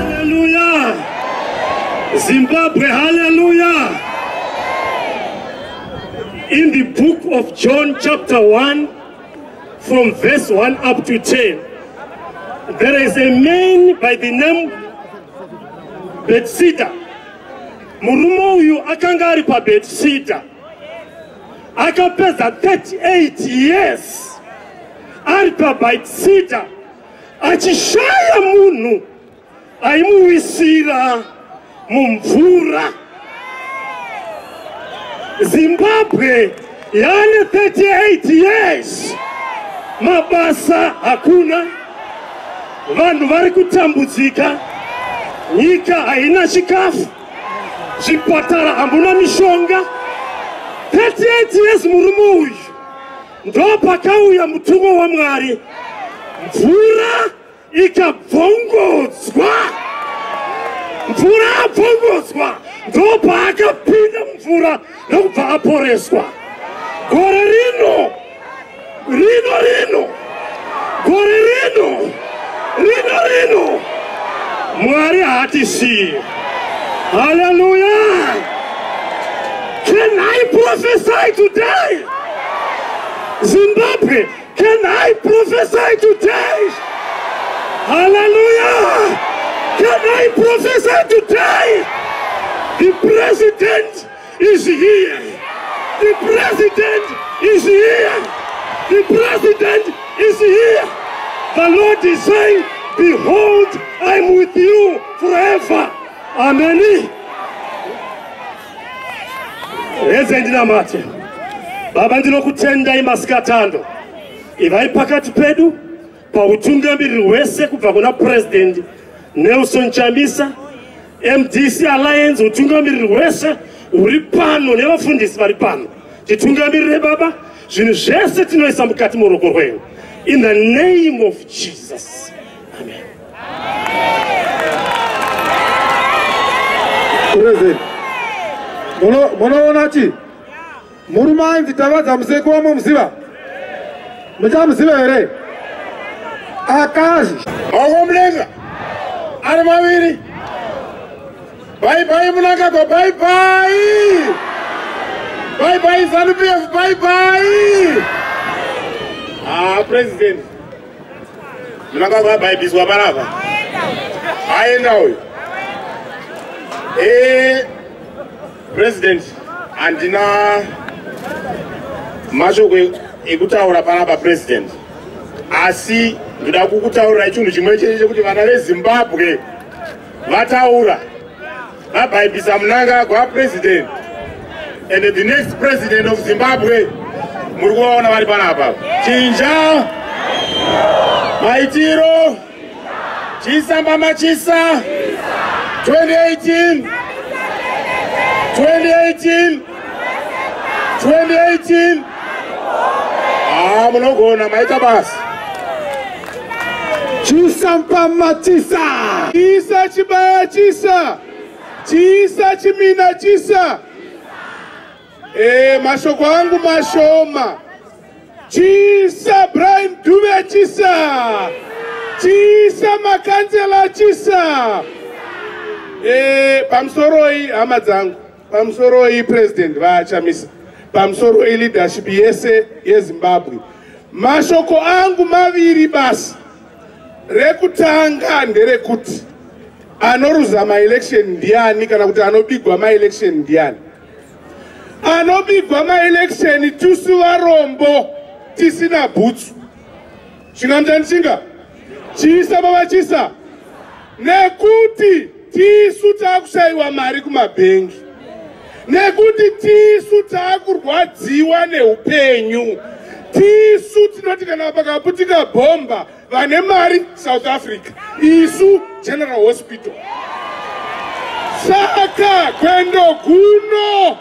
Hallelujah. Zimbabwe, hallelujah. In the book of John, chapter 1, from verse 1 up to 10, there is a man by the name Bethsaida. Murume uyu akanga ari paBethsaida. Akapedza 38 years ari paBethsaida achishaya munhu aimuwisira mumvura zimbabwe yaane 38 years mabasa hakuna vanhu vari kutambudzika nyika haina chikafu zvipatara hamuna mishonga 38 years murume uyu Ndopakauya mutumwa waMwari, mvura ikabvongodzwa. Mvura abvongodzwa, ndopaakapinda mumvura ndokubva aporeswa. Gore rino, rino rino, gore rino. rino rino mwari haatisiye haleluya can i prophesy today zimbabwe can i prophesy today haleluya can i prophesy today the president is here. The president is here. The president is here. The Lord is saying, Behold, I'm with you forever. Amen. Heze ndinamate. Baba ndinokutendai masikatando. Ivai pakati pedu. Pautungamiriri hwese kubva kuna President Nelson Chamisa, MDC Alliance, utungamiriri hwese huri pano nevafundisi vari pano, titungamirire Baba, zvinhu zvese tinoisa mukati moruoko rwenyu. In the name of Jesus. Amen. President, munoona chii? Murume ainzi Tavadza Museku wamomuziva? Muchamuziva here? Akazi. Maoko mudenga. Ari maviri. Bye bye Munangagwa bye bye. Bye bye Zanu PF bye bye. Ah president. Munangagwa bye biswa parapa. Aenda uyu. Eh President, handina mashoko ekutaura panapa president, asi ndoda kukutaurirai chinhu chimwe chete chekuti vana vezimbabwe vataura vabhaibhisa munangagwa president and the next president of zimbabwe muri kuvaona vari panapa chinja maitiro Chisa mama chisa 2018 2018 2018 Ah munogona maita basi Chisa mpama chisa Chisa chibaya chisa Chisa chimina chisa Eh mashoko angu mashoma Chisa Brian Dube Chisa Chisa Makanzela Chisa eh pamsoroi hama dzangu pamsoroi president vaachamisa pamsoroi leadership yese yeZimbabwe mashoko angu maviri basi rekutanga nderekuti anoruza maelection ndiani kana kuti anobigwa maelection ndiani anobigwa maeleksheni tisu varombo tisina bhutsu chingamjani chinga chiisa pavachisa nekuti tisu taakushayiwa mari kumabhengi nekuti tisu taakurwadziwa neupenyu tisu tinoti kana pakaputika bhomba vane mari south africa isu general hospital saka kwendo guno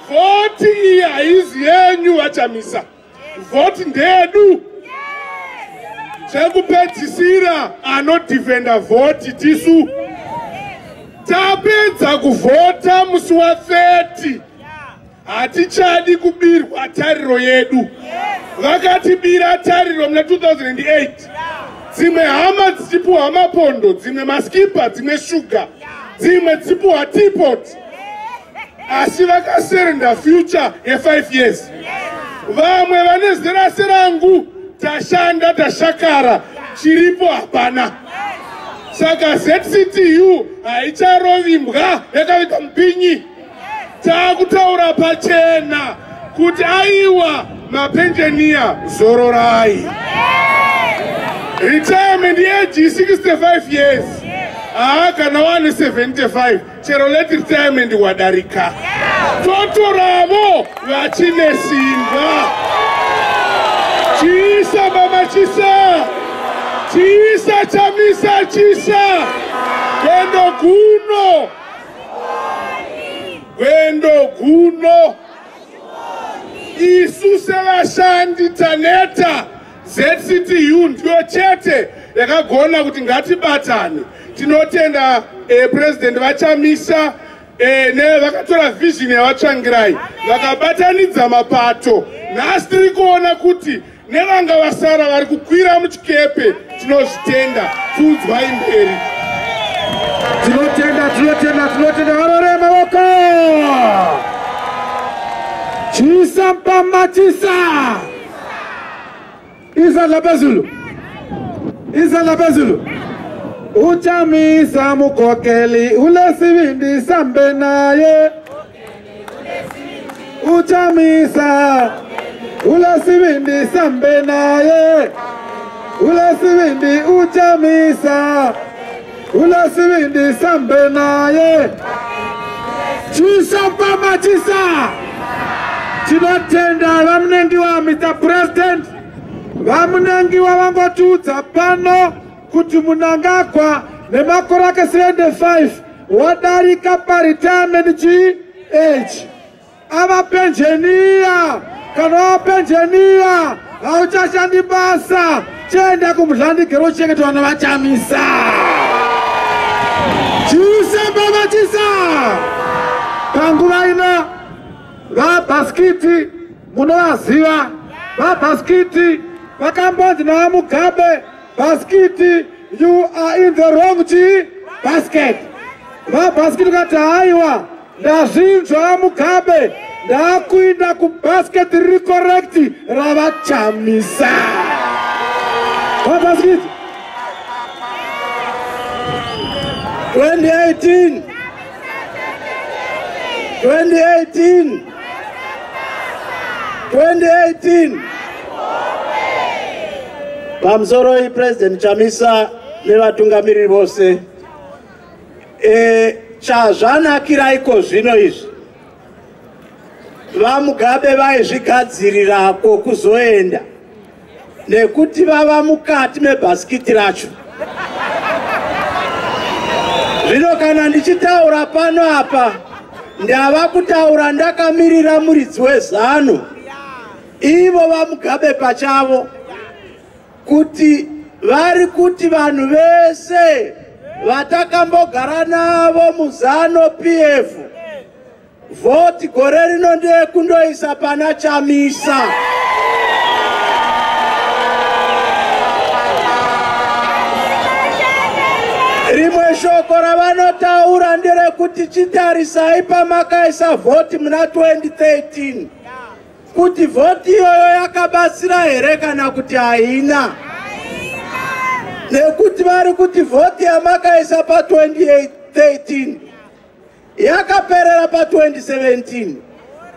vhoti iyi haizi yenyu vachamisa vhoti ndedu zvekupedzisira anodhifenda vhoti tisu tapedza kuvhota musi wa 30 hatichadi kubirwa tariro yedu vakatibira tariro muna 2008 dzimwe hama dzichipuhwa mapondo dzimwe maskipa dzimwe shuga dzimwe dzichipuhwa tipot asi vakaserenda future ye5 years vamwe vane zera serangu tashanda tashakara chiripo hapana saka zctu haicharovimbwa yakaita mupinyi Takutaura pachena kuti aiwa mapenjeniya zororai. Retirement yeji 65 years. Haa kana wane 75 chero let retirement wadarika. Totoravo vachine simba. Chisa mama chisa. Chisa chamisa chisa. Kwendo kuno. gwendo guno isu sevashandi taneta zctu ndiyo chete yakagona kuti ngatibatane tinotenda eh, president vachamisa eh, nevakatora vision yavatsvangirai vakabatanidza mapato nhasi tiri kuona kuti nevanga vasara vari kukwira muchikepe tinozvitenda pfuudzwai mberi tinotenda tinotenda tinotenda varore maoko chisa mpama chisa izadla pezulu izadla pezulu uchamisa mukokeli ulesivindi sambe naye uchamisa ulasivindi sambe naye ulasivindi uchamisa ulasivindi sambe naye chisopamachisa tinotenda vamunengiwa mr president vamunengiwa vangotiudza pano kuti munangagwa nemakore ake 75 wadarika paretirement chii age ava penjeniya kana wava penjeniya hauchashandi basa chienda kumudlandigero uchengeta vana vachamisa chiusambavachisa panguva ino vabhaskiti munovaziva vabhaskiti vakambonzi navamugabe Basikiti you are in the wrong chi basket. Vabhasikiti kati haiwa ndazvinzwa Mugabe ndakuinda kubasket riri correct ravachamisa. Vabhasikiti 2018 2018 2018 pamusoroi president chamisa nevatungamiriri vose e, chazvanakira iko zvino izvi vamugabe vaizvigadzirira ko kuzoenda nekuti vava mukati mebhasikiti racho zvino kana ndichitaura pano apa ndava kutaura ndakamirira muridzi wezano ivo vamugabe pachavo kuti vari kuti vanhu vese vatakambogara navo muzano pf Voti gore rino ndeyekundoisa pana Chamisa. Rimwe shoko ravanotaura nderekuti chitarisai pamakaisa vhoti muna 2013 kuti vhoti iyoyo yakabatsira here kana kuti haina nekuti vari kuti vhoti yamakaisa pa 2013 yakaperera pa 2017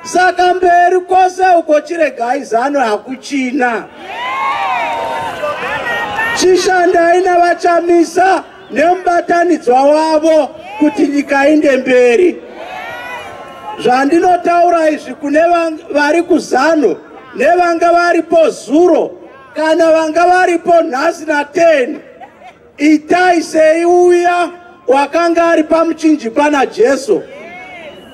saka mberi kwose uko chiregai zano hakuchina chishandai navachamisa nemubatanidzwa wavo kuti nyika inde mberi zvandinotaura izvi kune vari kuzano nevanga varipo zuro kana vanga varipo nhasi na 10 Itai sei uya wakanga ari pamuchinjikwa naJesu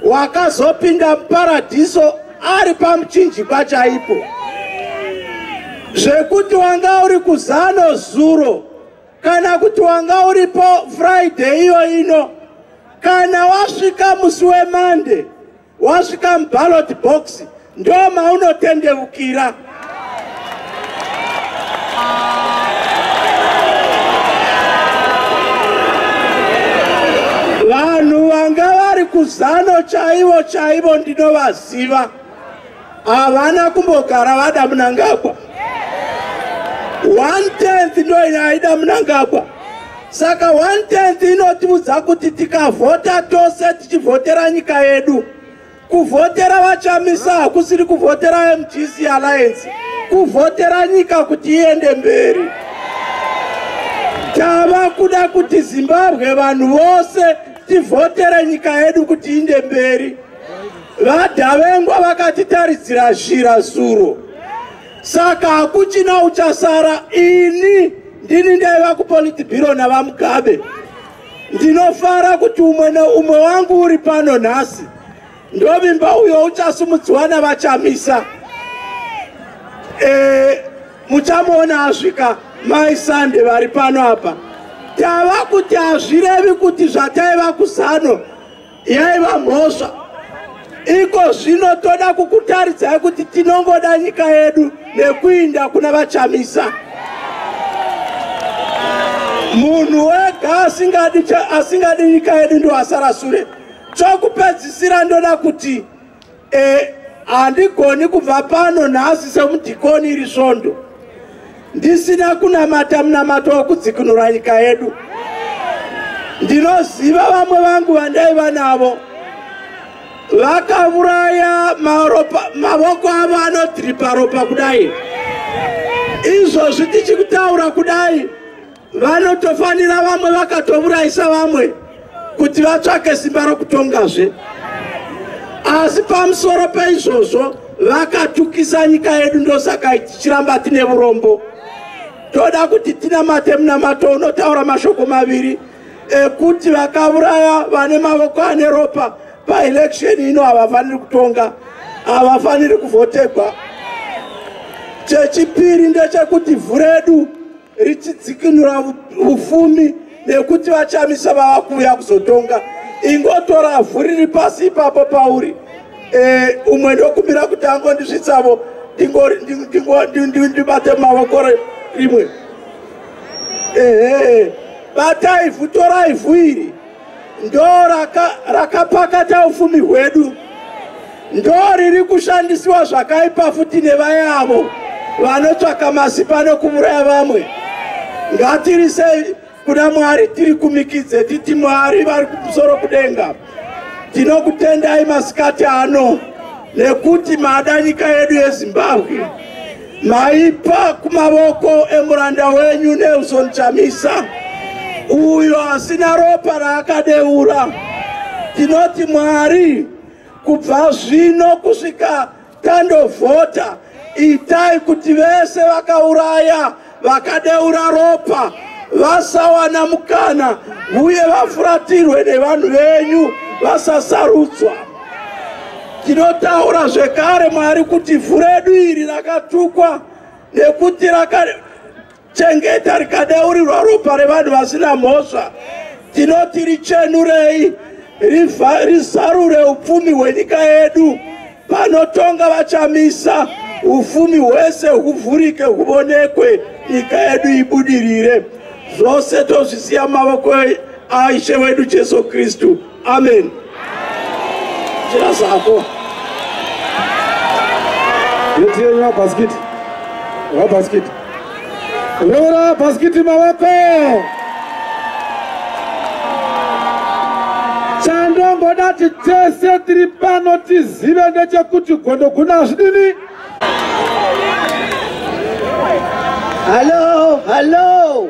wakazopinda muparadhiso ari pamuchinjikwa chaipo zvekuti wanga uri kuzano zuro kana kuti wanga uripo friday iyo ino kana wasvika musi wemande wasvika muballot box ndo maunotendeukira vanhu vanga vari kuzano chaivo chaivo ndinovaziva havana kumbogara vada munangagwa one tenth ndo inaida munangagwa saka one tenth inotiudza kuti tikavhota tose tichivhotera nyika yedu kuvhotera vachamisa hakusiri kuvhotera mgc alliance kuvhotera nyika kuti iende mberi tava kuda kuti zimbabwe vanhu vose tivhotere nyika yedu kuti iende mberi vadhavengwa vakatitarisira zhira zuro saka hakuchina uchasara ini ndini ndaiva kupolitibiro navamugabe ndinofara kuti umwe neumwe wangu uri pano nhasi ndovimba uyo uchasumudziwa navachamisa e, muchamuona asvika mai sande vari pano apa tava kuti hazvirevi kuti zvataiva kuzano yaiva mhosva iko zvino toda kukutaridzai kuti tinongoda nyika yedu nekuinda kuna vachamisa munhu wega asingadi asingadi nyika yedu ndoasara sure chokupedzisira ndoda kuti e, handigoni kubva pano nhasi semudhikoni iri svondo ndisina kunamata munamato wokudzikinura nyika yedu ndinoziva vamwe vangu vandaiva navo vakavuraya mavoko avo anodhiripa ropa kudai izvozvi tichikutaura kudai vanotofanira vamwe vakatovuraisa vamwe kuti vatsvake simba rokutongazve asi pamusoro peizvozvo vakatukisa nyika yedu ndosaka tichiramba tine urombo toda kuti tinamate munamato unotaura mashoko maviri ekuti vakavuraya vane mavoko ane ropa paelection ino havafaniri kutonga havafaniri kuvhotegwa chechipiri ndechekuti vhuredu richidzikinura ufumi nekuti vachamisa vava kuuya kuzotonga ingotora vhu riri pasi ipapo pauri e, umwe ndokumbira kuti angondisvitsavo ndibate mumavoko rimwe ehe batai vhu torai vhu iri ndo rakapakata raka ufumi hwedu ndo riri kushandisiwa zvakaipa futi nevayavo vanotsvaka masipa nokuvuraya vamwe ngatiri sei kuna mwari tiri kumikidze titi mwari vari kumusoro kudenga tinokutendai masikati ano nekuti mada nyika yedu yezimbabwe maipa kumavoko emuranda wenyu nelson chamisa uyo asina ropa raakadeura tinoti mwari kubva zvino kusvika tandovhota itai kuti vese vakauraya vakadeura ropa vasawana mukana uye vafuratirwe nevanhu venyu vasasarudzwa Tinotaura zvekare Mwari kuti ivhu redu iri rakatukwa nekuti rakachengeta rikadeurirwa ropa revanhu vasina mhosva. Tinoti richenurei, rizarure upfumi hwenyika yedu. Panotonga vachamisa ufumi hwese huvhurike huvonekwe nyika yedu ibudirire zvose tozvisiya mavoko aishe wedu jesu kristu amen chera zvako yetiyenywa bhasikiti vabhasikiti reura bhasikiti mavako chandongoda ti tese tiri pano tizive ndechekuti gondo guna hazvidini hallo hallo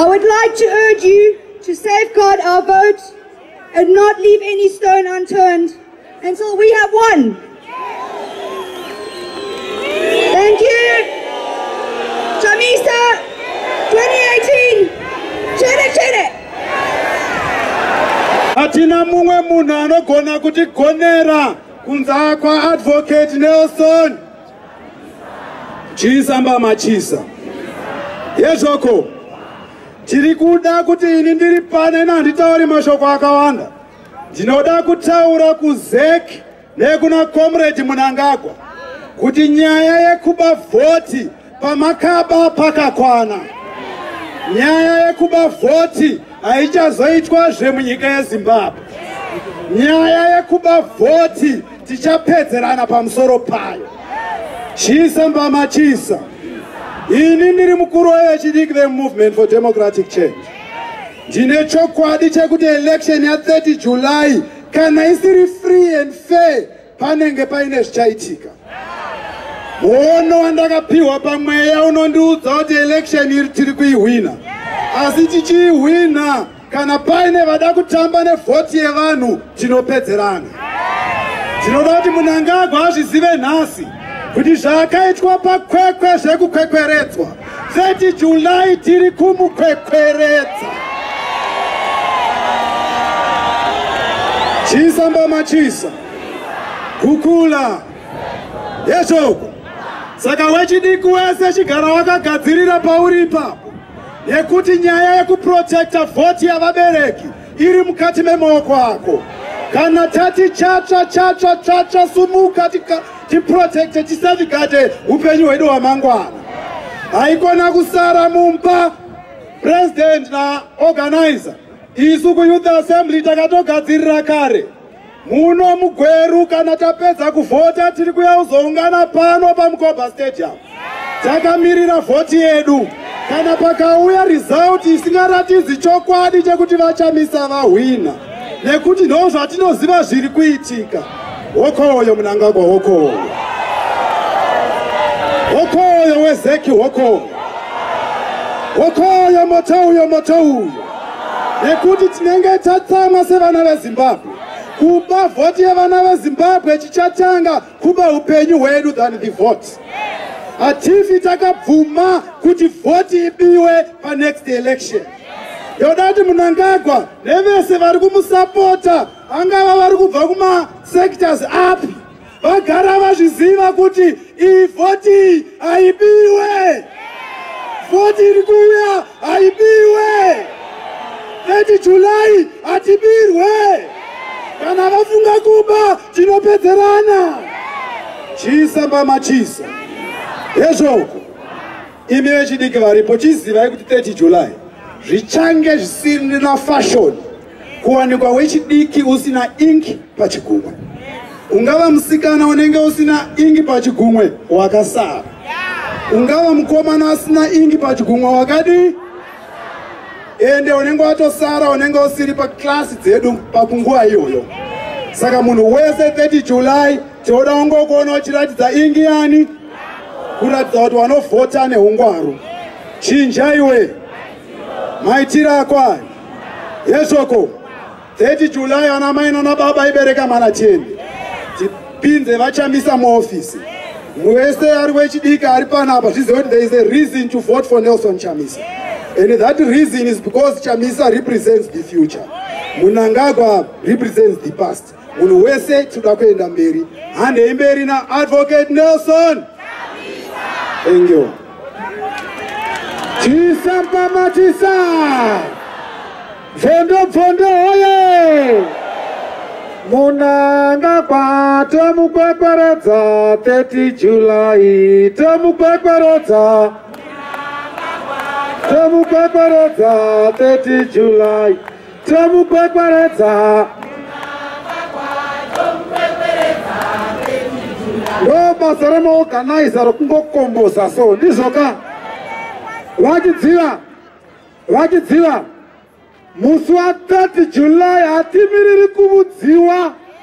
I would like to urge you to safeguard our vote and not leave any stone unturned until we have won. Thank you. Chamisa 2018. Chene chene. Hatina mumwe munhu anogona kutigonera kunze kwaAdvocate Nelson. Chisa mbama chisa. Yezvoko. Tiri kuda kuti ini ndiri pane nanditauri mashoko akawanda. Ndinoda kutaura kuZek nekuna Comrade Munangagwa kuti nyaya yekuba vhoti pamakaba pakakwana. Nyaya yekuba vhoti haichazoitwa zvemunyika yeZimbabwe. Nyaya yekuba vhoti tichapedzerana pamusoro payo chisa mbama chisa ini ndiri mukuru wevechidiki vemovement for democratic change ndine chokwadi chekuti election ya30 july kana isiri free and fair panenge paine zvichaitika muono wandakapiwa pamweya unondiudza kuti election iri tiri kuihwina asi tichiihwina Kana paine vada kutamba nevhoti yevanhu tinopedzerana. Tinoda kuti Munangagwa azvizive nhasi kuti zvaakaitwa pakwekwe zvekukwekweredzwa 30 July tiri kumukwekweredza. Chisa mbama chisa kukula yeshoko saka wechidiki wese chigara wakagadzirira pauri ipapo. nekuti nyaya yekuprotecta vhoti yavabereki iri mukati memaoko ako kana tati chatsva chatsva tsvatsva sumuka tiprotecte tisavigade upenyu hwedu hwamangwana haikona kusara mumba president naorganizer isu kuyouth assembly takatogadzirira kare Muno muGweru kana tapedza kuvhota tiri kuya kuzoungana pano paMukoba Stadium. Takamirira vhoti yedu. Kana pakauya result isingaratidzi chokwadi chekuti vachamisa vahwina nekuti ndo zvatinoziva zviri kuitika. Hokoyo Mnangagwa hokoyo. Hokoyo wezeki hokoyo. Hokoyo moto uyo moto uyo. nekuti tinenge tatsamwa sevana vezimbabwe kuba vhoti yevana vezimbabwe chichatanga kuba upenyu hwedu than the vote hatifi takabvuma kuti vhoti ibiwe panext election yoda kuti munangagwa nevese vari kumusapota angava vari kubva kumasectors api vagara vazviziva kuti iyi vhoti haibiwe vhoti iri kuuya haibiwe 30 julai hatibirwe kana vafunga kuba tinopedzerana chisa mbama chisa hezvoko imi vechidiki varipo chizivai kuti 30 julai zvichange zvisiri na fashoni kuwanikwa wechidiki usina ingi pachigumwe ungava musikana unenge usina ingi pachigumwe wakasara ungava mukomana asina ingi pachigumwe wakadii ende unenge watosara unenge usiri paklasi dzedu pakunguva iyoyo saka munhu wese 30 july tinoda ungokuona uchiratidza ingi yani kuratidza kuti wanovhota neungwaru chinja iwe maitiro akwai yeshoko 30 july ana mai nana baba ibereka mwana cheni tipinze vachamisa muofisi wese ari wechidiki ari panapa zvizive kuti there is a reason to vote for nelson chamisa and that reason is because chamisa represents the future munangagwa represents the past munhu wese tinoda kuenda mberi handei mberi naadvocate nelson thank you tisapamatisa bvondobvondo hoye munangagwa tomukwekweredza 30 julayi tomukwekweredza tomukwekweredza 30 julayi Tomukwekweredza. ndobasa remaorganizer rokungokomboza so ndizvo ka vachidziva vachidziva musi wa 30 july hatimiriri kuvudziwa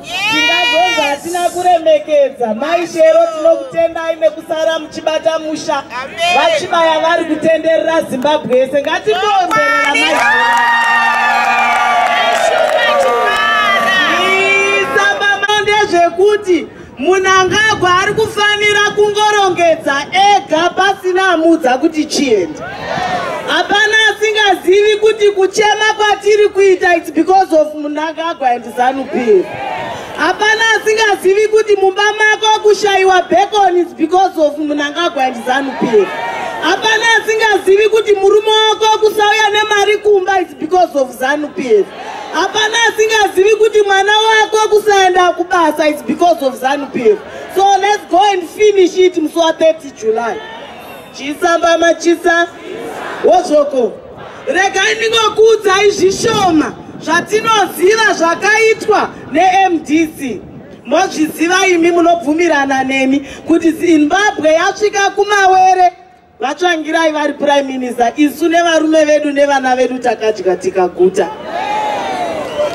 tingazonzi hatina kuremekedza mai shero tinokutendai nekusara muchibata musha vachibaya vari kutenderera zimbabwe yese ngatibonzerera mai zvekuti munangagwa ari kufanira kungorongedza ega pasina amudza kuti chienda hapana asingazivi kuti kuchema kwatiri kuita its because of munangagwa Zanu PF. Hapana asingazivi kuti mumba mako kushaiwa bacon is because of Mnangagwa and Zanu PF. Hapana asingazivi kuti murume wako kusauya nemari kumba is because of Zanu PF. Hapana asingazivi kuti mwana wako kusaenda kubasa is because of Zanu PF. So let's go and finish it musi wa 30 July. Chisamba machisa wozvoko. Regai ndingokuudzai zvishoma zvatinoziva zvakaitwa neMDC. Mozviziva imi munobvumirana nemi kuti Zimbabwe yasvika kumawere vatsvangirai vari prime minister isu nevarume vedu nevana vedu takadya tikaguta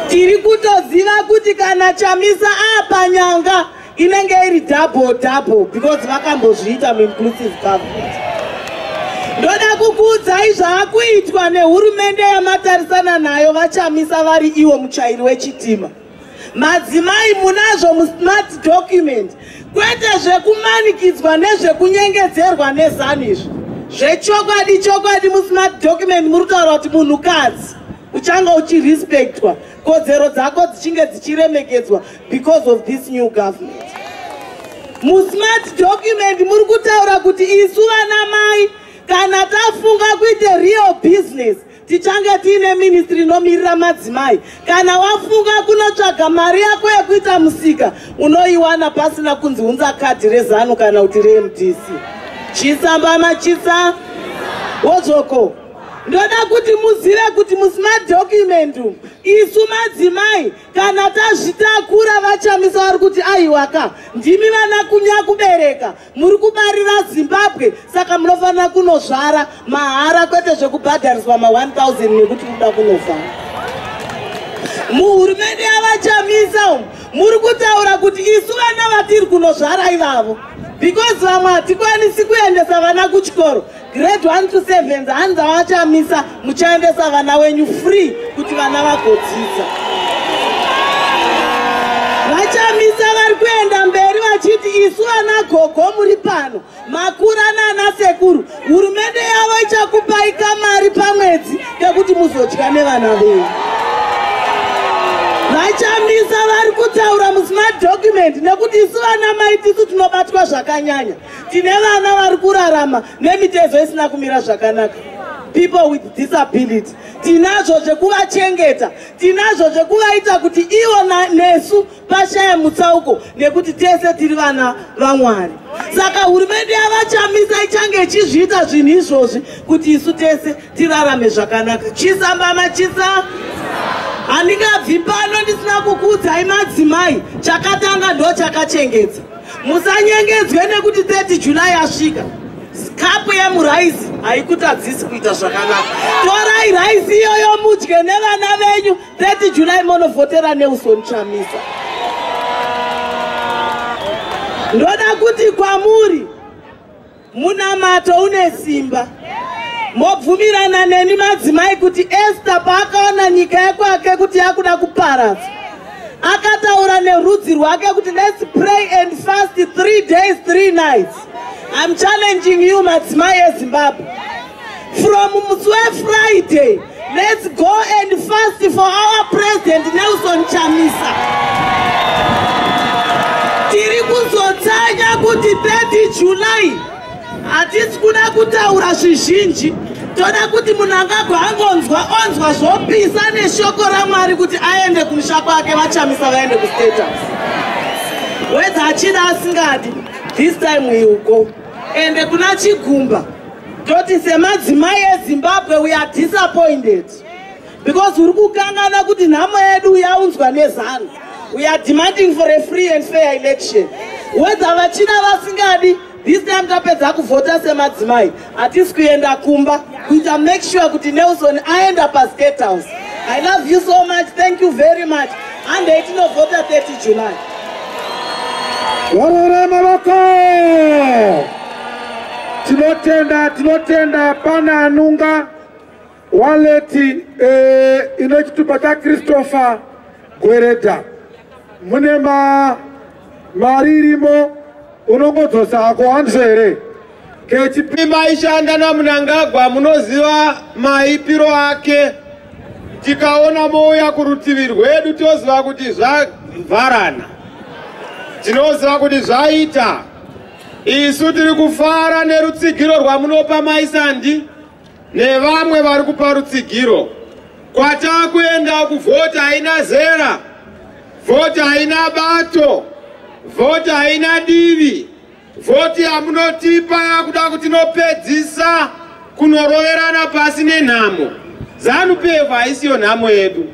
tiri kutoziva kuti kana chamisa apa nyanga inenge iri double double because vakambozviita muinclusive government ndoda kukuudzai zvaakuitwa nehurumende yamatarisana nayo vachamisa vari iwo muchairi wechitima madzimai munazvo musmart document kwete zvekumanikidzwa nezvekunyengedzerwa nezanu izvi zvechokwadi chokwadi musmart document muri kutaura kuti munhukadzi uchanga uchirespectwa kodzero dzako dzichinge dzichiremekedzwa because of this new government musmart document muri kutaura kuti isu vana mai kana tafunga kuita real business tichange tiine ministry inomirira madzimai kana wafunga kunotsvaga mari yako yekuita musika unoiwana pasina kunzi unza kadhi rezanu kana kuti remdc chisa mbama chisa wozvoko ndoda kuti muzive kuti musmart document isu madzimai kana tazvitakura vachamisa vari kuti aiwaka ndimi vana kunya kubereka muri kubarira zimbabwe saka munofanira kunozvara mahara kwete zvekubhadhariswa ma1000 nekuti kuda kunofa muhurumende yavachamisa umu muri kutaura kuti isu vana vatiri kunozvara ivavo because vamwe hatikwanisi kuendesa vana kuchikoro grade 1 to 7 hanzi avachamisa muchaendesa vana wenyu free kuti vana vagodzidza vachamisa vari kuenda mberi vachiti isu vana gogo muri pano makura nana sekuru hurumende yavo ichakupai kamari pamwedzi kekuti muzodya nevana venyu vachamisa vari kutaura musmart document nekuti isu vana mai tisu tinobatwa zvakanyanya tine vana vari kurarama nemitezo isina kumira zvakanaka people with disability tinazvo zvekuvachengeta tinazvo zvekuvaita kuti ivo nesu pashaya mutsauko nekuti tese tiri vana vamwari saka hurumende yavachamisa ichange ichizviita zvinhu izvozvi kuti isu tese tirarame zvakanaka chisa mbama chisa handingabvi pano ndisina kukuudzai madzimai chakatanga ndo chakachengeta musanyengedzwe nekuti 30 july asvika kapu yemuraisi haikutadzisi kuita zvakanaka torai raisi iyoyo mudye nevana venyu 30 july monovhotera nelson chamisa ndoda kuti kwamuri Munamato une simba. Mobvumirana neni madzimai kuti Esther paakaona nyika yekwake kuti yakuda kuparadza. Akataura nerudzi rwake kuti let's pray and fast three days three nights. I'm challenging you madzimai eZimbabwe. From musi wefriday let's go and fast for our president nelson chamisa tiri kuzotsanya kuti 30 july hatisi kuda kutaura zvizhinji toda kuti munhu angagwa angonzwa onzwa zvopisa neshoko ramwari kuti aende kumusha kwake vachamisa vaende kustate house wedza achida asingadi this time he will go ende kuna chigumba toti semadzimai ezimbabwe we are disappointed because uri kukangana kuti nhamo yedu yaunzwa nezanu we are demanding for a free and fair election whether vachina vasingadi this time tapedza kuvhota semadzimai hatisi kuenda kumba kuita make sure kuti nelson aenda pastate house i love you so much thank you very much handei tinovhota 30 july Warora Morocco! Tinotenda, tinotenda pana Anunga waleti eh, ine chitupa chaChristopher Gwereda. Mune ma mari irimo unongodzosa hako hanzvo here? Kechipi maishanda naMnangagwa munoziva maipiro ake. Tikaona mouya kurutivi rwedu toziva kuti zvavharana. Tinoziva kuti zvaita. Isu tiri kufara nerutsigiro rwamunopa maisandi nevamwe vari kupa rutsigiro. Kwatakuenda kuvhoti haina zera, vhoti haina bato, vhoti haina divi, vhoti yamunotipa yakuda kuti inopedzisa kunoroverana pasi nenhamo. Zanu PF haisiyo nhamo yedu,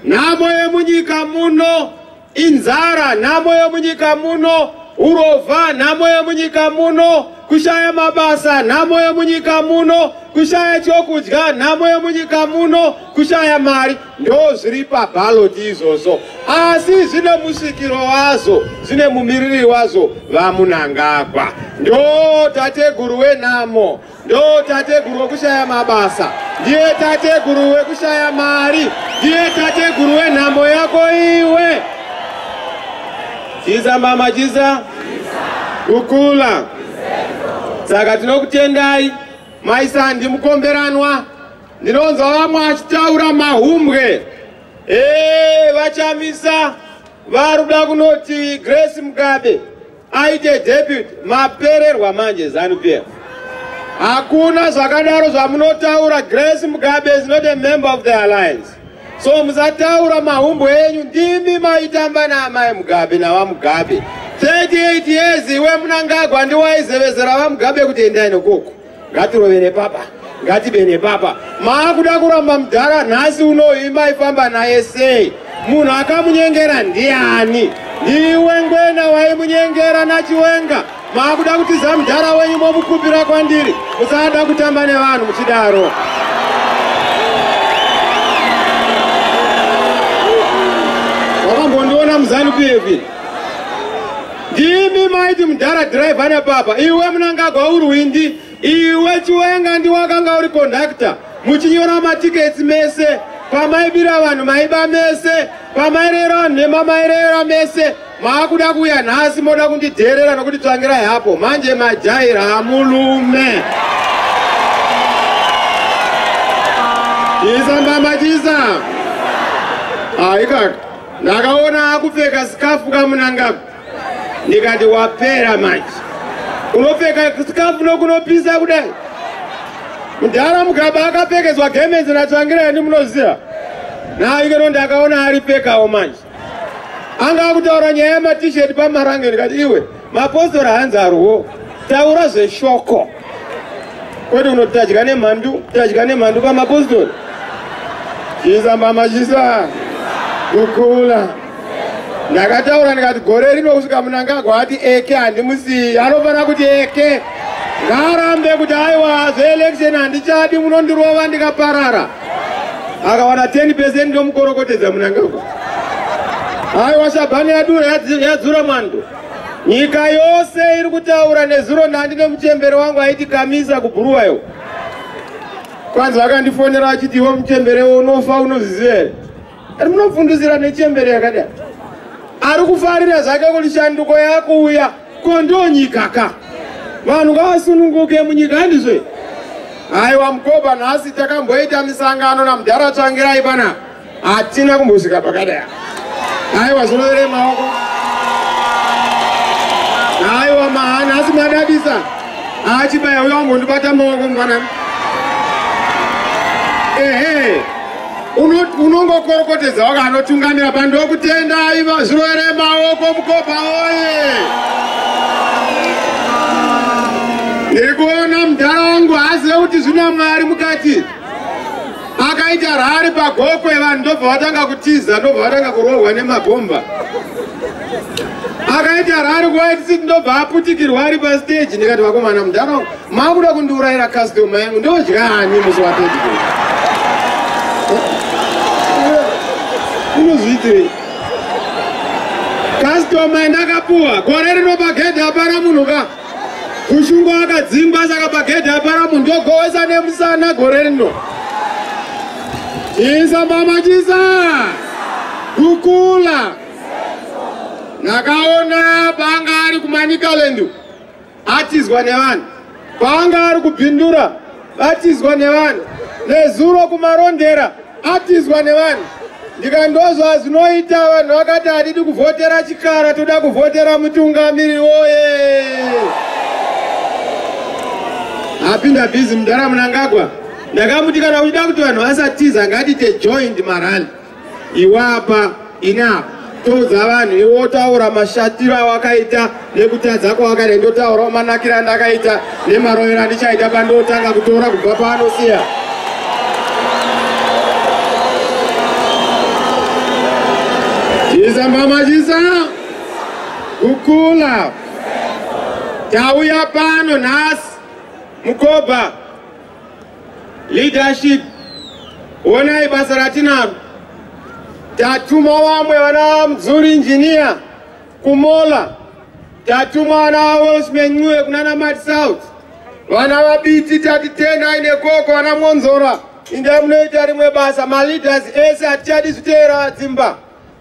nhamo yemunyika muno. Inzara nhamo yemunyika muno, urovha nhamo yemunyika muno, kushaya mabasa nhamo yemunyika muno, kushaya chokudya nhamo yemunyika muno, kushaya mari ndo zviri pabaloti izvozvo, asi zvine musvikiro wazvo, zvine mumiriri wazvo VaMunangagwa, ndo tateguru wenhamo. Ndo tateguru wekushaya mabasa, ndiye tateguru wekushaya mari, ndiye tateguru wenhambo yako iwe. Chiza mama chiza, kukula. Saka tinokutendai mai Sandi Mukomberanwa, ndinonzwa vamwe achitaura mahumbwe ee vachamisa vari kuda kunoti Grace Mugabe aite deputy mapererwa manje zanu pf hakuna zvakadaro zvamunotaura grace mugabe is not a member of the alliance so musataura mahumbo enyu ndimi maitamba naamai mugabe navamugabe 38 years iwe munangagwa ndiwaizevezera vamugabe kuti endai nokuku ngatirovere papa ngatibene papa maakuda kuramba mudhara nhasi unoyi maifamba naye sei munhu akamunyengera ndiani ndiwe ngwena waimunyengera nachiwenga maakuda kutiza mudhara wenyu momukupira kwandiri musada kutamba nevanhu muchidaro wakambondiona muzanu pf ndimi maiti mudhara driver nepapa iwe munangagwa urwindi iwe chiwenga ndiwakanga uri conductor muchinyora matiketsi mese pamaibira vanhu maiba mese pamairera vanhu nhema mairera mese maakuda kuuya nhasi moda kundidheerera nokuti tsvangirai hapo manje majaira hamulume chisa mbama chisa aikaka ah, ndakaona akupfeka sikafu kamunangagwa ndikati wapera manje unopfeka sikafu nokunopisa kudai mudhara mugaba akapfekedzwa gemenzi natsvangira ini munoziva naikeno ndakaona aripfekawo manje anga akutaura nyaya yematisheti pamarange ndikati iwe Mapostora hanzi arwo taura zveshoko kwete unotadya nemhandu tadya nemhandu pamapostori chisa mama chisa kukula ndakataura ndikati gore rino kusvika munangagwa ati eke handimusiyi anofanira kuti eke ngaarambe kuti aiwa zveelection handichadi munondirova ndikaparara akawana 10 pecent ndomukorokotedza munangagwa aiwa shabhani yadura yadzura mwando Nyika yose iri kutaura nezuro nhandi nemuchembere wangu aiti kamisa kubhuruwayo. Kwanzi vakandifonera vachiti iwe muchembere unofa unozviziva here? Ari munofundisira nechembere yakadai. Ari kufarira zvake kuti shanduko yakuuya ko ndonyika ka. Vanhu ngavasununguke munyika handizvo. Aiwa mkoba nhasi takamboita misangano namudhara tsvangirai panapa. hatina kumbosvika pakadai aiwa zvinovere maoko aiwa mahana asi madadisa achibaya uyo ambondibata maoko mfanani ehe unongokorokotedza waka anotungamira pandokutenda aiva zvirovere maoko mukopa oye ndiri kuona mudhara wangu hazive kuti zvina mwari mukati akaita rari pagokwe vanhu ndobva vatanga kutiza ndobva vatanga kurohwa nemabhomba akaita rari kuwaitsit ndobva aputikirwa ari pasteji ndikati vakomana mudhara makuda kundiurayira kastoma yangu ndodya hani musi watetikei unozviitirei kastoma ndakapuwa gore rinopagedha apana munhu ka Kushungu akadzingwa saka pagedhi apara munhu ndogowesa nemusana gore rino. Chisa mama chisa. Kukula. Ndakaona paanga ari kumanicaland atizwa nevanhu. Paanga ari kubvindura Atizwa nevanhu nezuro kumarondera atizwa nevanhu ndikandozva zvinoita vanhu vakati hatidi kuvhotera chikara toda kuvhotera mutungamiri woye apinda bhizi mudhara munangagwa ndakamuti kana uchida kuti vanhu vasatiza ngatite joint marali iwapa ina toudza vanhu iwe wotaura mashatiro awakaita nekutadza kwawakaita ndotaurawo manakiro andakaita nemarovero andichaita pandotanga kutora kubva paanosiya jisa mama jisa kukula tauya pano nhasi mukoba Leadership, honai basa ratinaro. Tatuma vamwe vana Mzuri engineer kuMola. Tatuma vana Welshman Ncube kunana Mad South. Vana vabiti tati tendai nekoko vana Mwonzora. Inda munoita rimwe basa, maleaders ese hatichadi zviteera dzimba.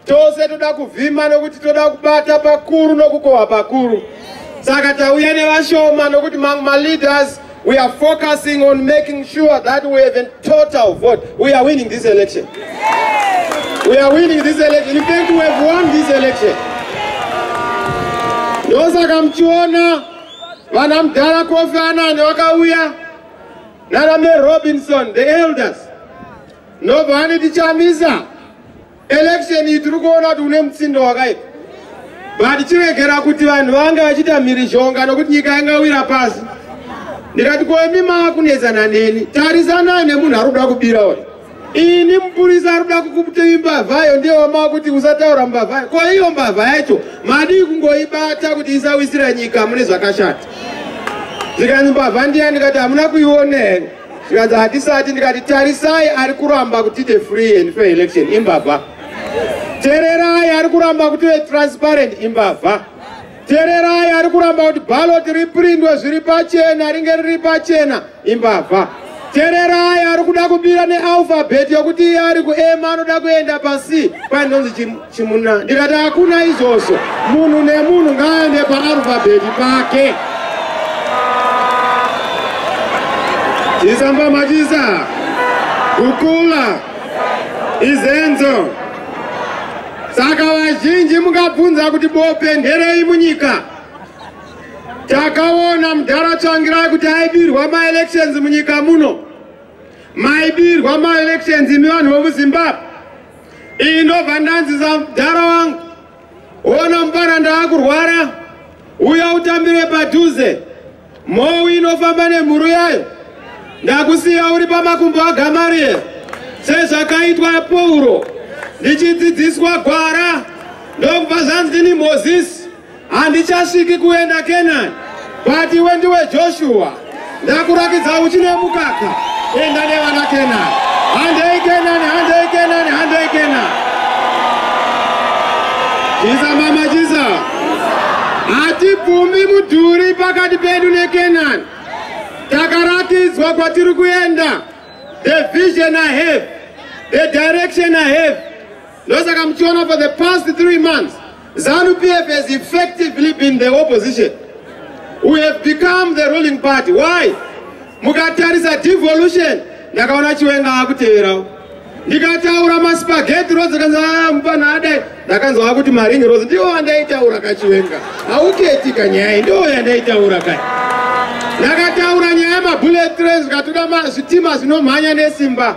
Tose toda kuvhima nokuti toda kubata pakuru nokukohwa pakuru. Saka tauya nevashoma nokuti mamwe maleaders we are focusing on making sure that we have a total vote. We are winning this election. We are winning this election. In fact, we have won this election. Ndosaka mchiona vana mdhara Kofi Annan vakauya nana Mary Robinson, the elders. ndobva aniti chamisa election iyi tiri kuona kuti une mutsindo wakaita but chiregera kuti vanhu vange vachiita mhirizhonga nokuti nyika yangawira pasi ndikati koimi maakunetsana neni tarisanai nemunhu ari kuda kubira uyu ini mupurisa ari kuda kukuti mbavhayo ndiye wamaa kuti usataura mbavhayo ko iyo mbavha yacho madii kungoibata kuti isawisira nyika mune zvakashata zvikanzi mbavha ndiya ndikati hamuna kuiona here zvikanzi hatisati ndikati tarisai ari kuramba kuti the free and fair election imbavha tererai ari kuramba kuti ve transparent imbavha tererai ari kuramba kuti ballot riprindwe zviri pachena ringe riri pachena imbavha tererai ari kuda kubira nealphabet yokuti iye ari kuema anoda kuenda pasi painonzi Chimuna ndikati hakuna izvozvo, munhu nemunhu ngaaende paarufabheti pake. Chisamba machisa, kukula, izenzo. Saka vazhinji mukabvunza kuti bope nderei munyika? Takaona mudhara Tsvangirai kuti aibirwa maelections munyika muno. Maibirwa maelections imi vanhu vemuZimbabwe. iyi ndobva ndanzisa mdhara wangu ona mupana ndaakurwara uya utambire padhuze mhou inofamba nemhuru yayo ndakusiya uri pamakumbo agamarieri sezvakaitwa pauro ndichidzidziswa gwara ndokubva zvanzi ndini mozisi Handichasviki kuenda Canaan, but iwe ndiwe Joshua. Ndakurakidza uchi nemukaka. Enda nevana Canaan. Handei Canaan, handei Canaan, handei Canaan. Jiza mama jiza. Hatibvumi mudhuri pakati pedu neCanaan. Takaratidzwa kwatiri kuenda. The vision I have, the direction I have. ndosaka muchiona for the past three months zanu pf has effectively been the opposition we have become the ruling party why mukatarisa devolution ndakaona chiwenga akuteverawo ndikataura maspageti rozi akanzi ah, mupana adai ndakanzi wakuti maringi rozi ndiwo andaitaura kachiwenga hauketi kanyaya ndiwo yandaitaura kai ndakataura nyaya yemabullet train zvikatoda zvitima zvinomhanya nesimba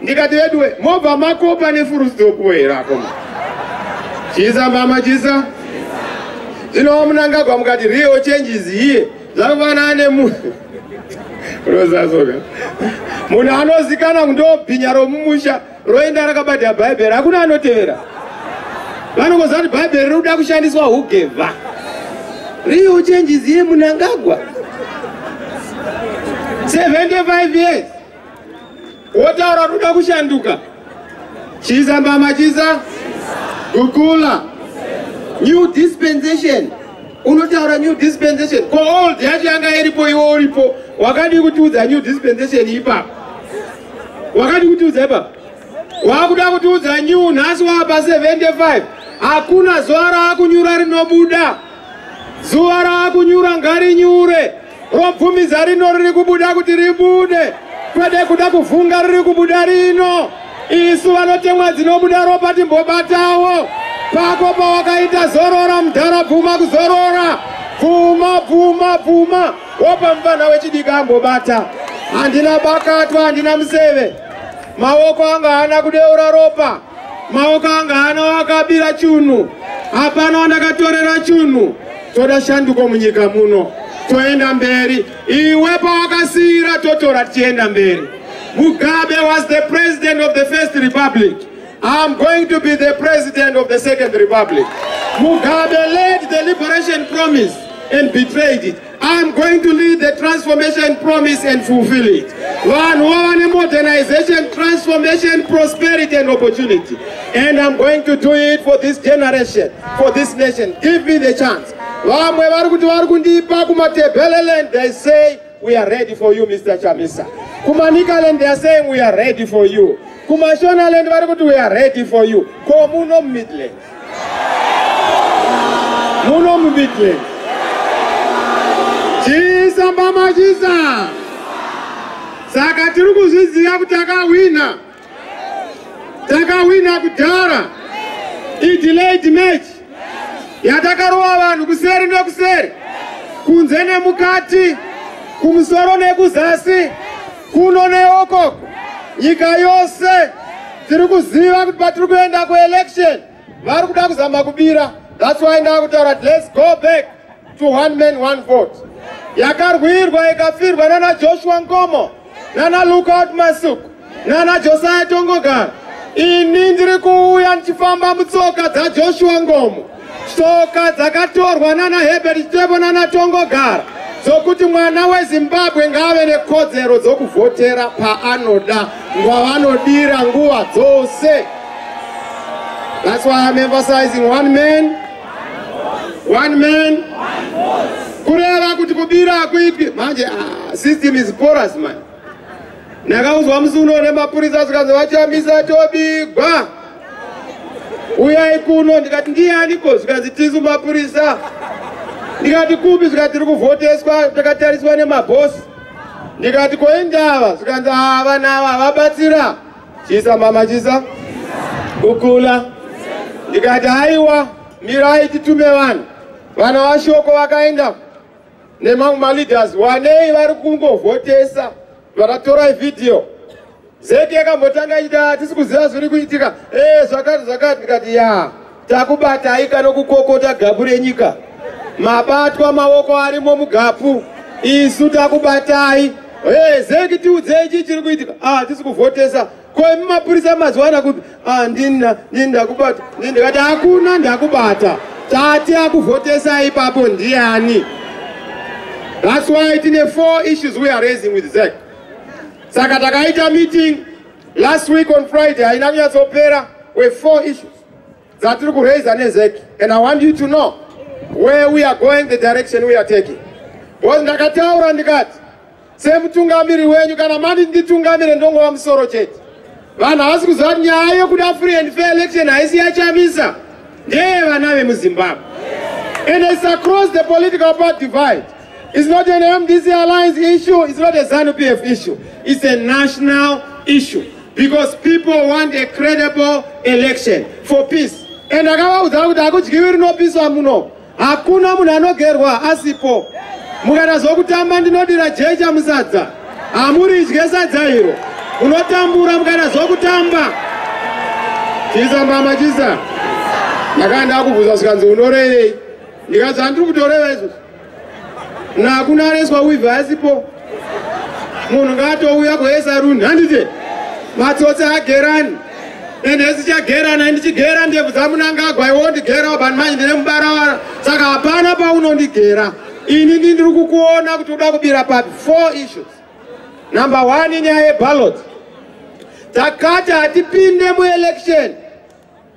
ndikati veduwe mobva makopa nefurusidokuwo here akoma chisa mama chisa zvinowa munangagwa mukati real changes here zvakafanana nemunhu rozasoka munhu anozikana kuti ndobhinya romumusha roenda rakabata bhaibheri hakuna anotevera vanongoziva kuti bhaibheri riri kuda kushandiswa hugevha real changes here munangagwa 75 years wotaura ruda kushanduka chiza mbama chiza gukula new dispensation unotaura new dispensation ko old yacho yanga iripo iwo uripo wakadii kutiudza new dispensation ipapo wakadii kutiudza ipapo wakuda kutiudza new nhasi waapa 75 hakuna zuva raakunyura rinobuda zuva raakunyura ngarinyure Robvumiza rino riri kubuda kuti ribude, kwede kuda kuvhunga riri kubuda rino. Isu vanotemwa dzinobuda ropa timbobatawo. Pako pawakaita zorora mudhara bvuma kuzorora. Bvuma, bvuma, bvuma. Wopa mupfanha wechidiki ambobata. Handina bakatwa, handina museve. Maoko anga haana kudeura ropa. maoko anga hana wakabira chunhu hapana wandakatorera chunhu toda shanduko munyika muno toenda mberi iwe pawakasiyira totora tichienda mberi mugabe was the president of the first republic I'm going to be the president of the second republic mugabe led the liberation promise and betrayed it I'm going to lead the transformation promise and fulfill it. Vanhu vava nemodernization, transformation, prosperity and opportunity. And I'm going to do it for this generation, for this nation. Give me the chance. Vamwe vari kuti vari kundipa kumatebheleland, they say, we are ready for you, Mr. Chamisa. Kumanikaland, they are saying, we are ready for you. Kumashonaland, vari kuti we are ready for you. Komuno Midland. muno mumidrand chiisa mbama chiisa saka tiri kuzviziva kuti takahwina takahwina kudhara idilaid match yatakarova vanhu kuseri nekuseri kunze nemukati kumusoro nekuzasi kuno neoko nyika yose tiri kuziva kuti patiri kuenda kuelection vari kuda kuzama kubira thats why ndakutaura kuti lets go back to one man one vote yakarwirwa ikafirwa nana joshua nkomo nana lookout masuku nana josiah tongogara ini ndiri kuuya ndichifamba mutsoka dzajoshua ngomo Tsoka dzakatorwa nana Herbert Chitepo nana Tongogara dzokuti mwana weZimbabwe ngaave nekodzero dzokuvhotera paanoda ngwavanodira nguva dzose. That's why I'm emphasizing one man, one man, one vote. Kureva kuti kubira hakuitwi manje, ah, system is porous man. Ndakaudzwa musi uno nemapurisa zvikanzi vachamisa tobigwa. Uyai kuno ndikati ndiyaniko zvikanzi tisu mapurisa. Ndikati kupi zvikanzi tiri kuvhoteswa takatariswa nemabhosi. Ndikati koindava zvikanzi havana ava vabatsira. Chisa mama chisa. Kukula. Ndikati haiwa mirai titume vanhu. Vana vashoko vakaenda. nemamwe maleaders wanei vari kungovhotesa vakatorai vhidhiyo zeki yakambotanga ichiti hatisi ah, kuziva zviri kuitika ee eh, zvakati zvakati ndikati ya takubatai kana kukokota gapu renyika mabatwa maoko arimo mugapu isu takubatai ee eh, zeki tiudzei chii chiri kuitika ah, hatisi kuvhotesa Kwai mapurisa mazuva ana kupi? Ah, ndini ndini ndakubata. Ndini ndikati hakuna ndakubata. Tati akuvhotesa ipapo ndiani? That's why tine four issues we are raising with ZEC. Saka takaita meeting last week on Friday haina kunyatsopera we four issues dzatiri kuraiza neZEC and I want you to know where we are going the direction we are taking. Because ndakataura ndikati semutungamiri wenyu kana mati nditungamire ndongova musoro chete vanhu havasi kuziva kuti nyaya yokuda free and fair election haisi yachamisa ndeye vana vemuzimbabwe and it's across the political part divide it's not an mdc alliance issue it's not a zanu p f issue it's a national issue because people want a credible election for peace and akavaudza kuti hakudyiwi rinopiswa muno Hakuna munhu anogerwa asipo. Mukaita zvokutamba ndinodira jecha musadza. Hamuridye sadza iro. Munotambura mukaita zvokutamba. Chisa mama chisa. Ndakaenda kubvunza zvikanzi unorevei? Ndikati zvandiri kutoreva izvozvo. Nakunareswa wivi asipo. munhu ngaatouya kuesaruni handite matsotsi agerani and hesi chagerana and chigera ndebvu dzamunangagwa iwondigera ubani manje ndine mubarawara saka hapana paunondigera ini ndi ndiri kukuona kuti uda kubira papi four issues number one inyaya yebalot takati hatipinde muelection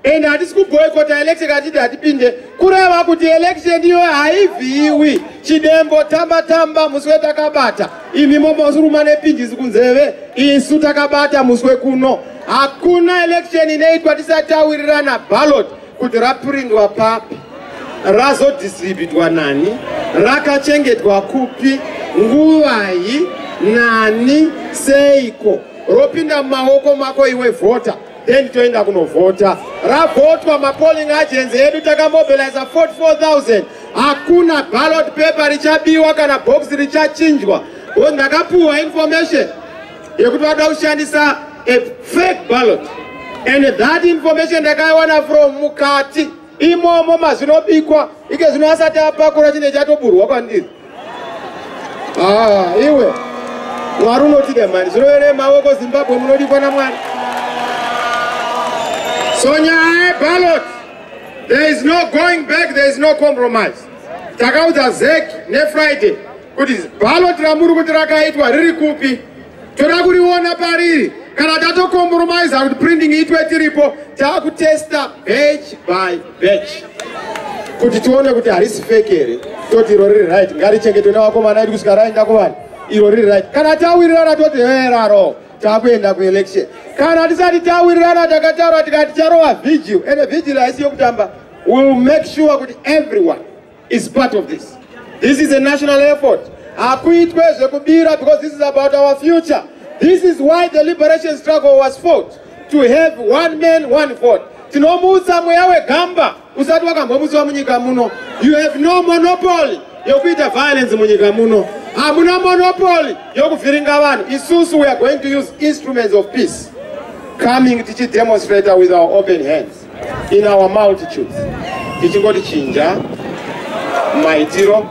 and hatisi kuboycota election katiti hatipinde kureva kuti election iyo haivhiiwi chidembo tamba tamba musi wetakabata imi momosuruma nepinjisi kunzeve isu takabata musi wekuno hakuna election inoitwa tisatawirirana ballot kuti raprindwa papi razodistributwa nani rakachengetwa kupi nguvai nani seiko ropinda mumaoko mako iwe vhota then toenda kunovhota ravhotwa mapolling agents edu takamobiliza 44000 hakuna ballot paper richabiwa kana box richachinjwa bcause ndakapuhwa information yekuti vakuda kushandisa a fake ballot and that information ndakaiwana from mukati imomo mazvinobikwa ike zvino asati apakura chine chatoburwa kwandiri ah, iwe mwari unotida mani zvirovere maoko zimbabwe munodikwa namwari so nyaya yebalot there is no going back there is no compromise takaudza zek nefriday kuti balot ramuri kuti rakaitwa riri kupi toda kuriona pariri kana tatokompromise kuti printing itwe tiripo takutesta batch by batch kuti tione kuti harisi fake here toti iro riri right ngarichengetwe nevakomana edu kusvika raenda kuvanhu iro riri right kana tawirirana toti heraro takuenda kuelection kana tisati tawirirana takataura tikati charova vigil ende vigil haisi yokutamba will make sure kuti everyone is part of this this is a national effort hakuitwe zvekubira because this is about our future this is why the liberation struggle was fought to have one man one vote tinomutsa mweya wegamba usati wakambomutsiwa munyika muno you have no monopoly yokuita violence munyika muno hamuna monopoly yokuvhiringa vanhu isusu we are going to use instruments of peace coming tichidemonstrator with our open hands in our multitudes tichingoti chinja maitiro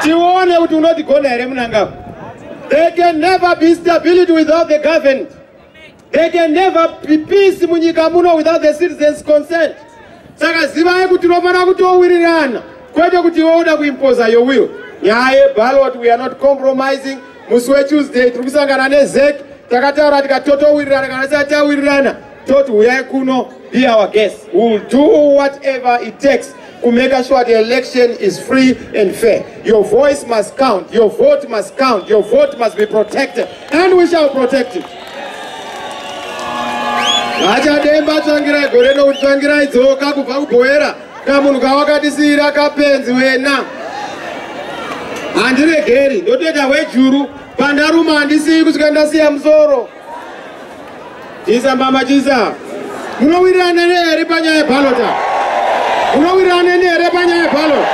tione kuti unotigona here munangagwa they can never be stability without the government they can never be peace munyika muno without the citizens consent saka zivai kuti tinofanira kutowirirana kwete kuti iwe uda kuimposa your will nyaya yebalot we are not compromising musi wetuesday tiri kusangana nezek takataura tikatotowirirana kana tisati tawirirana toti huyai kuno be our guest we will do whatever it takes to make sure the election is free and fair your voice must count your vote must count your vote must be protected and we shall protect it vachademba tsvangirai gore nokuti tsvangirai dzoka kubva kubhoera kamunhu kawakatisiira kapenzi wena handiregeri ndotoita hwejuru pandaruma handisiyi kusvika ndasiya musoro chisa mbama chisa munowirirana nehere panyaya yebalota munowirirana nehere panyaya yebalot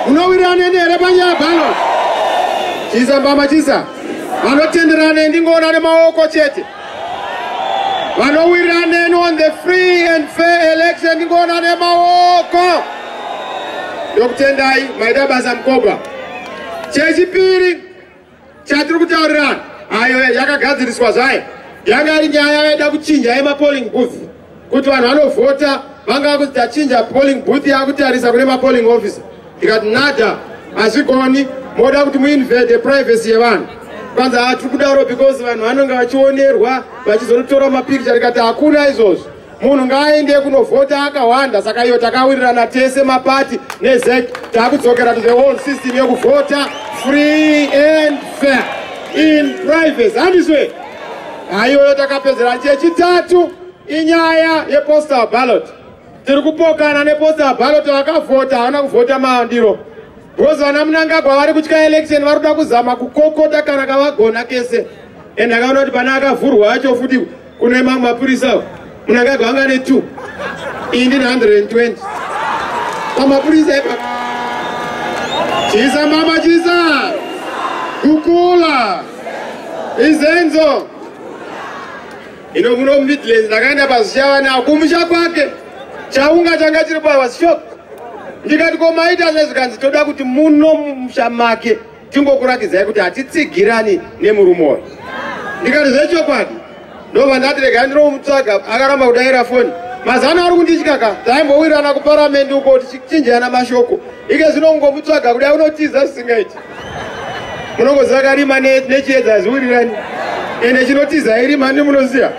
munowirirana nehere panyaya yebalot chisa mbama chisa vanotenderana ndingoona nemaoko chete vanowirira neni on the free and fair election ndingoona nemaoko ndokutendai maida basa mukobwa chechipiri chatiri kutaurirana ayo yakagadziriswa zvayo yanga iri nyaya yaida kuchinja yemapolling booth kuti vanhu vanovhota vanga vakuti tachinja polling booth yakutarisa kune mapolling officer ndikati nada hazvigoni moda kuti muinvade privacy yevanhu kwanza hatiri kudaro because vanhu vanonge vachionerwa vachizonotora mapikicha ndikati hakuna izvozvo munhu ngaaende kunovhota akawanda saka iyo takawirirana tese mapati nezec takudzokera to the whole system yekuvhota free and fair in privacy handiswe Haiyoyo takapedzera chechitatu inyaya yepostal ballot. Tiri kupokana nepostal ballot vakavhota havana kuvhota mandiro. Because vana Mnangagwa vari kutya election vari kuda kuzama kukokota kana kavagona kese. And akaona kuti pane akavhurwa acho futi kune mamwe mapurisa. Munangagwa anga ne 2 ini ndine 120 pamapurisa ipa chisa mama chisa kukula izenzo ino muno midlands ndakaenda pazichavana akumusha kwake chaunga changa chiri pavashop ndikati komaita zvezvikanzi toda kuti muno musha make Tingokuratidzai kuti hatitsigirani nemurume uyu. Ndikati zvechokwadi ndobva ndati regai ndinomutsvaga akaramba kudaira foni mazano ari kunditya ka taimbowirirana kuparamendi uko tichinjeyana mashoko ike zvino ungomutsvaga kudai unotiza zvisingaiti munongoziva karima nechiedza ziwirirani ende chinotiza irima ndi munoziva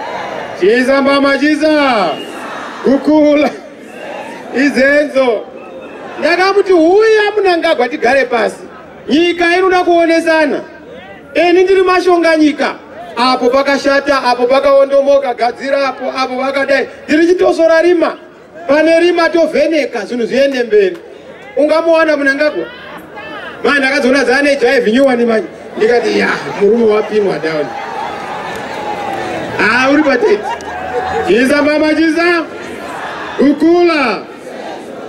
chiisa mbama chiisa kukula izenzo ndakamuti huya munangagwa tigare pasi nyika inoda kuonesana ini ndiri mashonga nyika apo pakashata apo pakaondomoka gadzira apo apo vakadai ndiri chitosora rima pane rima tovheneka zvinhu zviende mberi ungamuwana munangagwa manje ndakazoona zane jive nyowani manje ndikati ya murume wapinwa down haa ah, uri patete chiza mama chiza kukula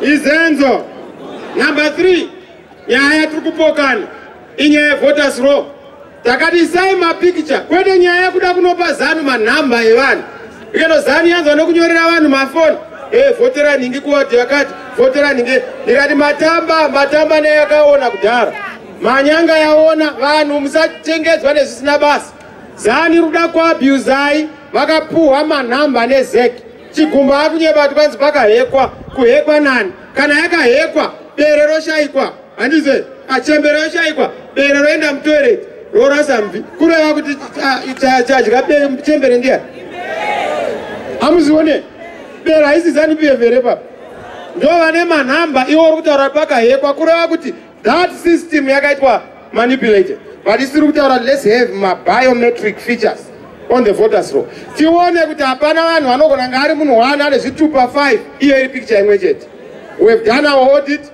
izenzo number three nyaya tiri kupokana inyaya yevoters row Takati isai mapikicha kwete nyaya yekuda kunopa zanu manhamba evanhu ikeno zanu yanzwa nekunyorera vanhu mafoni e eh, vhotera nhingi kuwadi yakati vhotera nhingi ndikati matamba matamba neyakaona kudhara manyanga yaona vanhu musatengedzwa nezvisina basa zani ruda kuabhuzai vakapuhwa manhamba nezeki Chigumbu akunyeba kuti kwanzi pakahekwa, kuhekwa nani? Kana yakahekwa, bere roshaikwa, handize, achembere yoshaikwa, bere roenda mutoilet, rorasa mvi, kureva kuti chadya chembere ndiya. Hamuzione, bere haisi zanu behavior epapa. Ndovane manhamba, iwo uri kutaura pakahekwa, kureva kuti That system yakaitwa manipulated but isiri kutaura let's have mabiometric features on the voters roll tione kuti hapana vanhu vanogona nga ari munhu one ane zvitupa five iyo iri picture imwe chete we have done our audit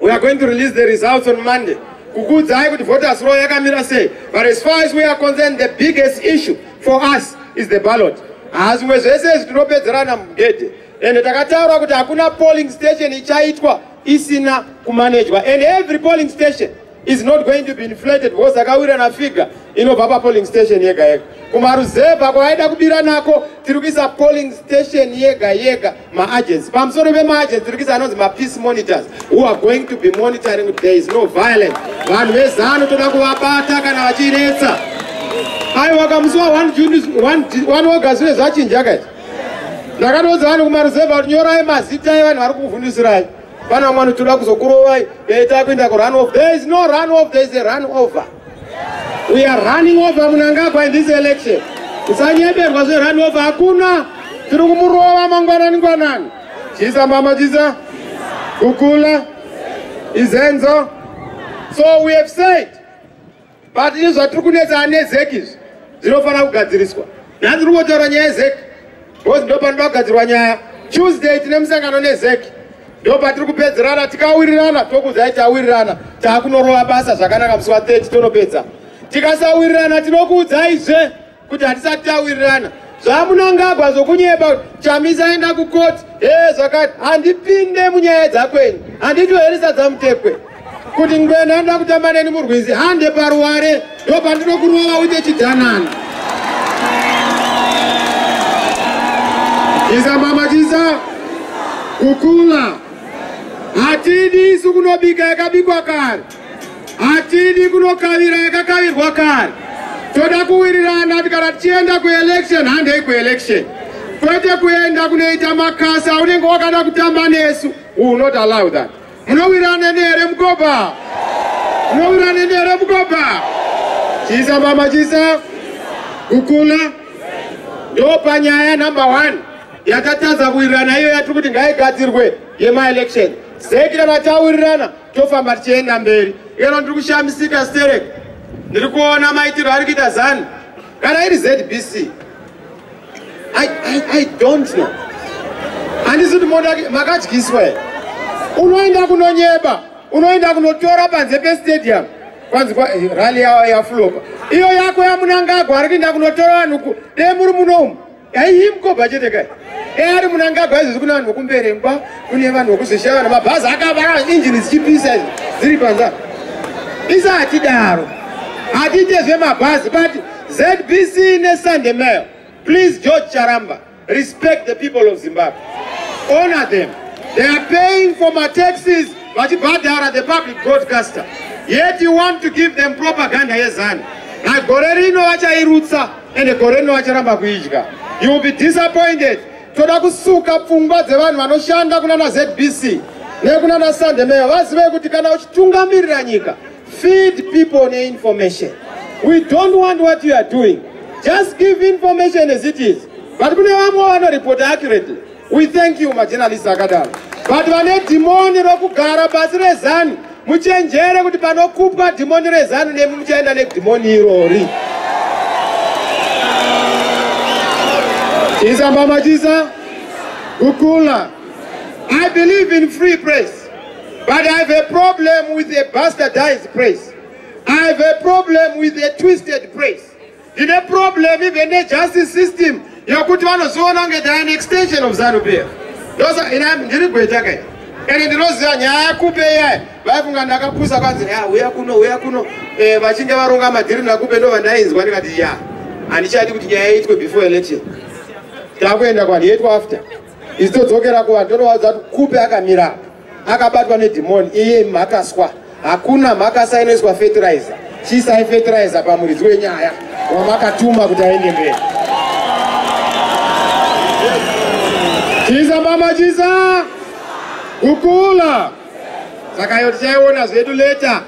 we are going to release the results on monday kukuudzai kuti voters roll yakamira sei but as far as we are concerned the biggest issue for us is the ballot hazvimwe zvese izvi tinopedzerana mugedhe ende takataura kuti hakuna polling station ichaitwa isina kumanejwa and every polling station is not going to be inflated because akawira na figure inobva pa polling station yega yega kumaruzevha kwaida kubira nako tiri kuisa polling station yega yega maagency pamusoro pemaagency tiri kuisa anonzi mapeace monitors who are going to be monitoring there is no violence vanhu vezano toda kuvabata kana vachinetsa aiwa kamusi wa 1 august zve zvachinja kaizvi ndakatoudza vanhu kumaruzevha kuti nyorai mazita evanhu vari kukuvhundisirai pana vamwe vanotoda kuzokurovai dai takuenda kurun off there is no run off there is a run over we are running over munangagwa in this election usanyeberwa zverun over hakuna tiri kumurova mangwanani ngwanani chisa mama chisa kukula izenzo so we have said but ini zvatiri kunetsana nezeki izvi zvinofanira kugadziriswa nhasi tiri kungotaura nyaya yezeki bcause ndo panoda kugadzirwa nyaya tuesday tine musangano nezeki ndo patiri kupedzerana tikawirirana tokudzai tawirirana taakunorova basa zvakanaka musi wa 30 tonopedza tikasawirirana tinokuudzaizve kuti hatisati tawirirana zvamunangagwa zvokunyeba chamisa aenda kukoti e zvakati handipinde munyaya dzakwenyu handitoherisa dzamutekwe kuti ngwena anoda kutamba neni murwizi hande paruware ndo pandinokurova uite chidhanani isa mama chisa kukula hatidi isu kunobika yakabikwa kare hatidi kunokavira yakakavirwa kare toda kuwirirana ti kana tichienda kuelection handei kuelection kwete kuenda kunoita makasa unenge wakada kutamba nesu unot allow that munowirana nehere mukoba munowirana nehere mukoba chisa mama chisa kukula ndopanyaya number one yatatadza kuwirirana iyo yatiri kuti ngaigadzirwe yemaelection sekira matawirirana tofamba tichienda mberi iyona ndiri kushamisika sterek ndiri kuona maitiro ari kuita zani kana iri zbc I, I, i don't know handisi kuti moda makadyiswa here unoenda kunonyeba unoenda kunotora panze pestadium kwanzi eh, rali yawo yafulopa iyo yako yamunangagwa ari kuenda kunotora vanhu dei muri muno umu Yayi mkoba chete kai. Eh ari munangagwa izvi kuna vanhu vokumberengwa kune vanhu vokuzishaya vanhu mabhazi akavara engine dzichipisa izvi dziri panza. Isa hatidaro. Hatite zvemabhazi but ZBC ne Sunday Mail. Please George Charamba respect the people of Zimbabwe. Honor them. They are paying for my taxes vachibhadhara the public broadcaster. Yet you want to give them propaganda yezanu. Nagore rino vachairutsa. ende gore rino acharamba kuidya you will be disappointed toda kusuka pfungwa dzevanhu vanoshanda kuna na zbc nekuna na sandemeyo vazive kuti kana uchitungamirira nyika feed people neinformation we don't want what you are doing just give information as it is but kune vamwe vanoripota accurately We thank you majournalist akadaro but vane dhimoni rokugara pasi rezanu muchenjere kuti panokupwa dhimoni rezanu nemi muchaenda nedhimoni irori isambamachisa kukula i believe in free press but i have a problem with a bastardized press i have a problem with a twisted press Tine problem even ne justice system yekuti vanoziona kunge they are an extension of Zanu PF. Ndosa ina ndiri gweta kai. Ende ndinoziva nyaya yakupe iyayi vaifunga ndakapusa kwanzi ya uya kuno uya kuno eh, vachinge varonga madhiri nakupe ndo vandainzwa ndikati ya handichadi kuti nyaya iitwe before election takuenda kwani yaitwa after izodzokera kuvanhu tonovaudza kuti kupe akamira akabatwa nedhimoni iye mhakaswa hakuna mhakasa inoiswa fertilizer chiisai fertilizer pamuridzi wenyaya wamakatuma kuti aende mberi chiisa mama chiisa kukula saka yo tichaiona zvedu leta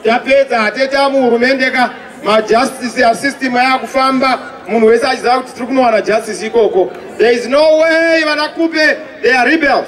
tapedza hateta muhurumende ka majustice asystem ayakufamba munhu wese achiziva kuti tiri kunowana justice ikoko there is no way vanakupe they are rebels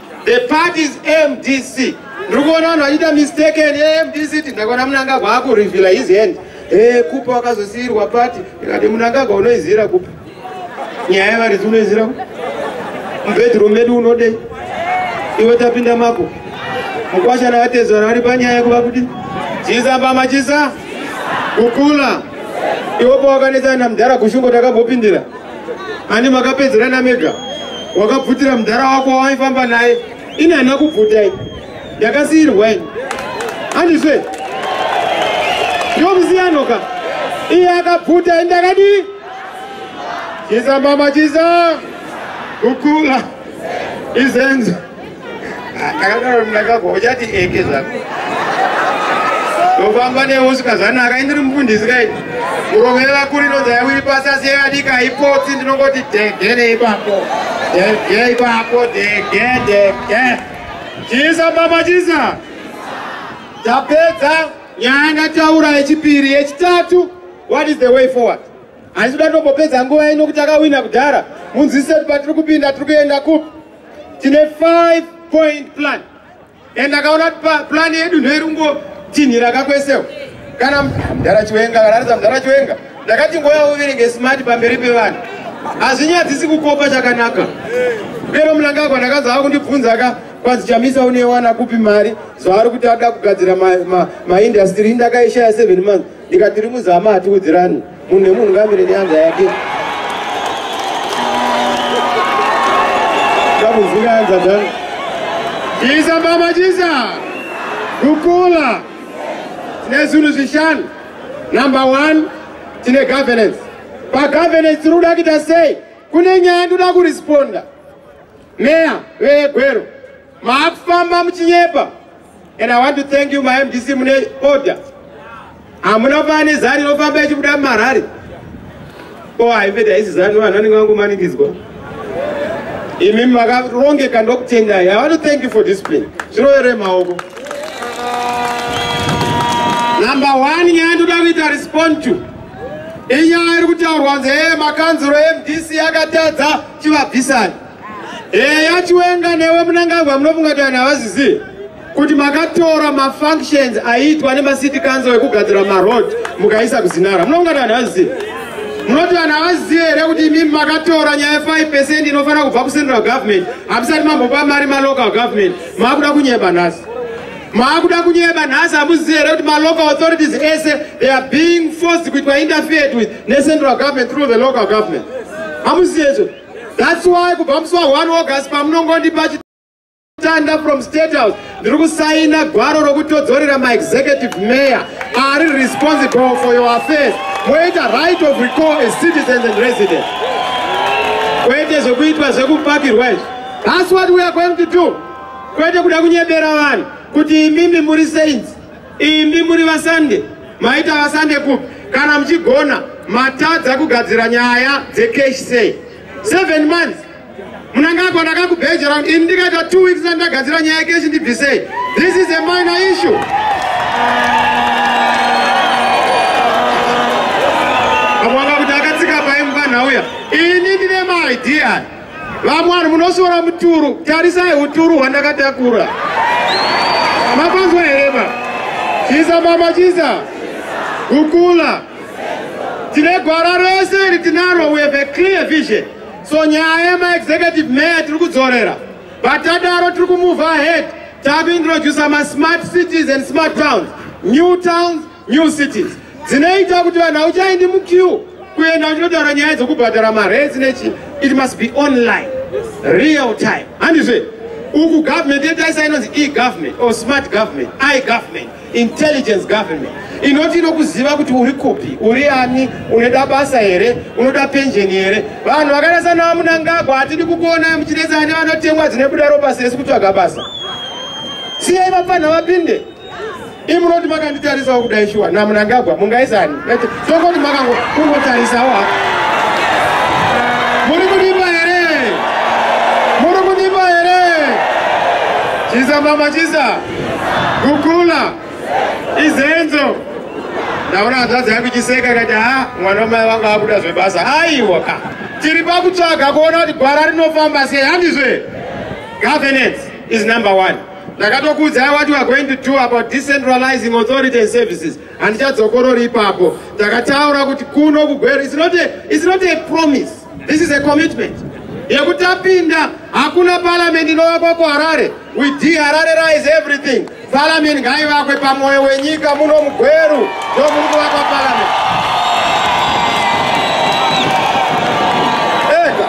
The party is MDC. Ndiri kuona vanhu vachiita mistake and MDC kuti ndakaona munangagwa akurivhila his hand. Eh kupa wakazosiirwa party ikati munangagwa unoizira kupa. Nyaya yevaridzi unoizira kupa. Mubedroom medu unodei. Iwe tapinda mako. Mukwasha navatezvara vari panyaya yekuva kuti chisa pamachisa kukula. Iwe pawakanetsana namudhara kushungo takambopindira. ani makapedzerana mega wakabvutira mudhara wako wawaifamba naye ini hana kubvutai yakasiirwa ini handizve ndomusiyano ka iye akabvuta ini ndakadii chizambama chiza kukula izenzo ndakadaro ndakagwa uchati eke zvako ndofamba neusika zvanaka indiri mufundisi kai kurovera kuri inonzi yawiri pasi asi yeyadika haipotsi ndinongoti dege neipapo dege ipapo dege dege chisa mama chisa tapedza nyaya ndataura yechipiri yechitatu what is the way forward handisi kuda tombopedza nguva ino kuti akawina kudhara munzwisise kuti patiri kupinda tiri kuenda kupi tine 5 point plan and akaona plan yedu ndoirungo tinhira kakwesewo kana mdara chiwenga kanaratidza mdara chiwenga ndakati ngoya uverenge smart pamberi pevanhu hazvinyadzisi kukopa chakanaka pero mnangagwa ndakadza ava kundibvunza ka kwanzi chamisa unewana kupi mari zvaari kuti ada kugadzira maindastry ma, ma industry ndakaishaya 7 months Nyika tiri muzama hatiudzirani. Munhu nemunhu ngamire neyanza yake. Kamuzira yanza dzangu. Jiza mama jiza. Kukula. Tine zvinhu zvishanu. Number 1 tine governance. Pa governance tiri kuda kuita sei? Kune nyaya ndoda kuresponda. Meya vegwero. Maakufamba muchinyepa. And I want to thank you my MDC mune order. Hamuna fani zani inofamba ichibuda mumarari. Ko haive daisi zani vanhu vanenge vangomanikidzwa. Imi makarongeka ndokutendai. I want to thank you for discipline. Zvirovere maoko. Number one nyaya ndoda kuita respond to. Inyaya iri kutaurwa nzeye makanzuro MDC yakatadza chivabvisani. Eya Chiwenga newe Munangagwa munofunga kuti vanhu havazizivi kuti makatora mafunctions aiitwa nemacity council ekugadzira maroad mukaisa kuzinara munofunga kuti vanhu havazizivi munoti vanhu havazizivi here kuti imimi makatora nyaya 5 percent inofanira kubva kucentral government hamusati mambopa mari malocal government maakuda kunyeba nhasi maakuda kunyeba nhasi hamuzivi here kuti malocal authorities ese they are being forced kuitwa interfered with necentral government through the local government hamuzivi hezvo That's why kubva musi wa 1 August pamunongondipa chitanda from State House ndiri kusaina gwaro rokutodzorera my executive mayor ari responsible for your affairs moita right of recall as citizens and residents kwete zvekuitwa zvekupakirwa izvi that's what we are going to do kwete kuda kunyebera vanhu kuti imimi muri sainzi Imi muri vasande maita vasande kupi kana muchigona matadza kugadzira nyaya dzecash say seven months munangagwa ndakakubhejera kuti ini ndikaita two weeks ndandagadzira nyaya yekeshi ndibvisei this is a minor issue amwanga kuti akatsika paimba nhauya ini ndine maidea Vamwe vanhu munosora muturu, tarisai uturu hwandakatakura. Mapanzwa here ba? Chisa mama chisa. Kukula. Tine gwara rese iri tinaro, we have a clear vision. So nyaya yema executive mayor tiri kudzorera. Vatadaro tiri kumove ahead. Takuintroducer ma smart cities and smart towns. New towns New cities dzinoita kuti vanhu hauchaendi muqueue kuenda uchinotaura nyaya dzokubhadhara mares nechi it must be online real time handizve uku government yetaisa inonzi egovernment or smart government igovernment intelligence government inoti inokuziva kuti uri kupi uri ani unoda basa here unoda penjeni here vanhu vakanasanawa munangagwa hatidi kukuonai muchinetsani vanotemwa dzine buda ropa sesi kutsvaga basa siyai vapanha vapinde imi munoti makanditarisawo kudai shuwa namunangagwa mungaisani tokoti makango kungotarisawo ha muri kundipa here muri kundipa here chisa mama chisa kukula izenzo ndaona hanzvadzi yangu chiseka ikati ha mwana wamai vangu akuda zvebasa aiwa ka tiri pakutsvaga kuona kuti gwara rinofamba sei handizve governance is number one ndakatokuudzai what we are going to do about decentralizing authority and services handichadzokorori ipapo ndakataura kuti kuno kugwero is not a, is not a promise this is a commitment yekuti tapinda hakuna paramend inovakwa kuharare we dehararerize everything paramend ngaivakwe pamwoyo wenyika muno mugweru ndomuri kuvakwa paramend ega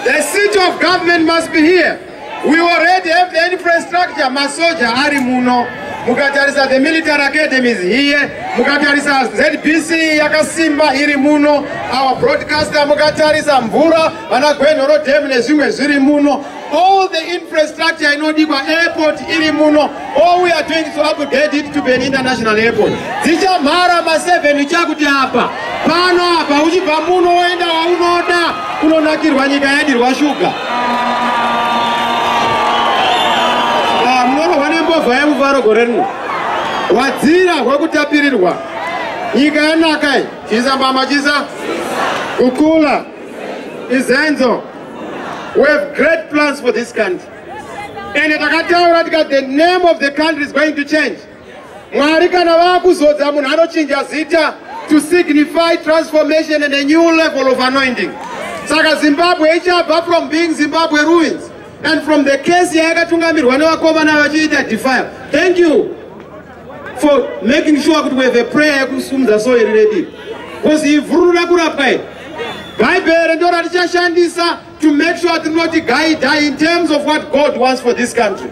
the seat of government must be here We already have the infrastructure masoja ari muno mukatarisa the military academies here mukatarisa zbc yakasimba iri muno our broadcaster mukatarisa mvura vana gwenhoro dam nezvimwe zviri muno all the infrastructure inodikwa airport iri muno All we are doing is to upgrade it to be an international airport. Dzichamhara ma 7 chakuti apa pano apa uchibva muno woenda waunoda kunonakirwa nyika yadirwa shuga. Ah, Munorohwa nembova yemufaro gore rino. Wadzira hwekutapirirwa. Nyika yanaka iyi. Chisa mbama chisa. Kukula. Izenzo. We have great plans for this country. ende takataura tika the name of the country is going to change mwari kana vakuzodza munhu anochinja zita to signify transformation and a new level of anointing saka zimbabwe ichabva from being zimbabwe ruins and from the case yayakatungamirwa nevakomana vachiita defile thank you for making sure kuti we have a prayer yekusumudza soeri redii bcause ivhurura kurapwa i bhaibheri ndo ratichashandisa to make sure tinoti guida in terms of what god wants for this country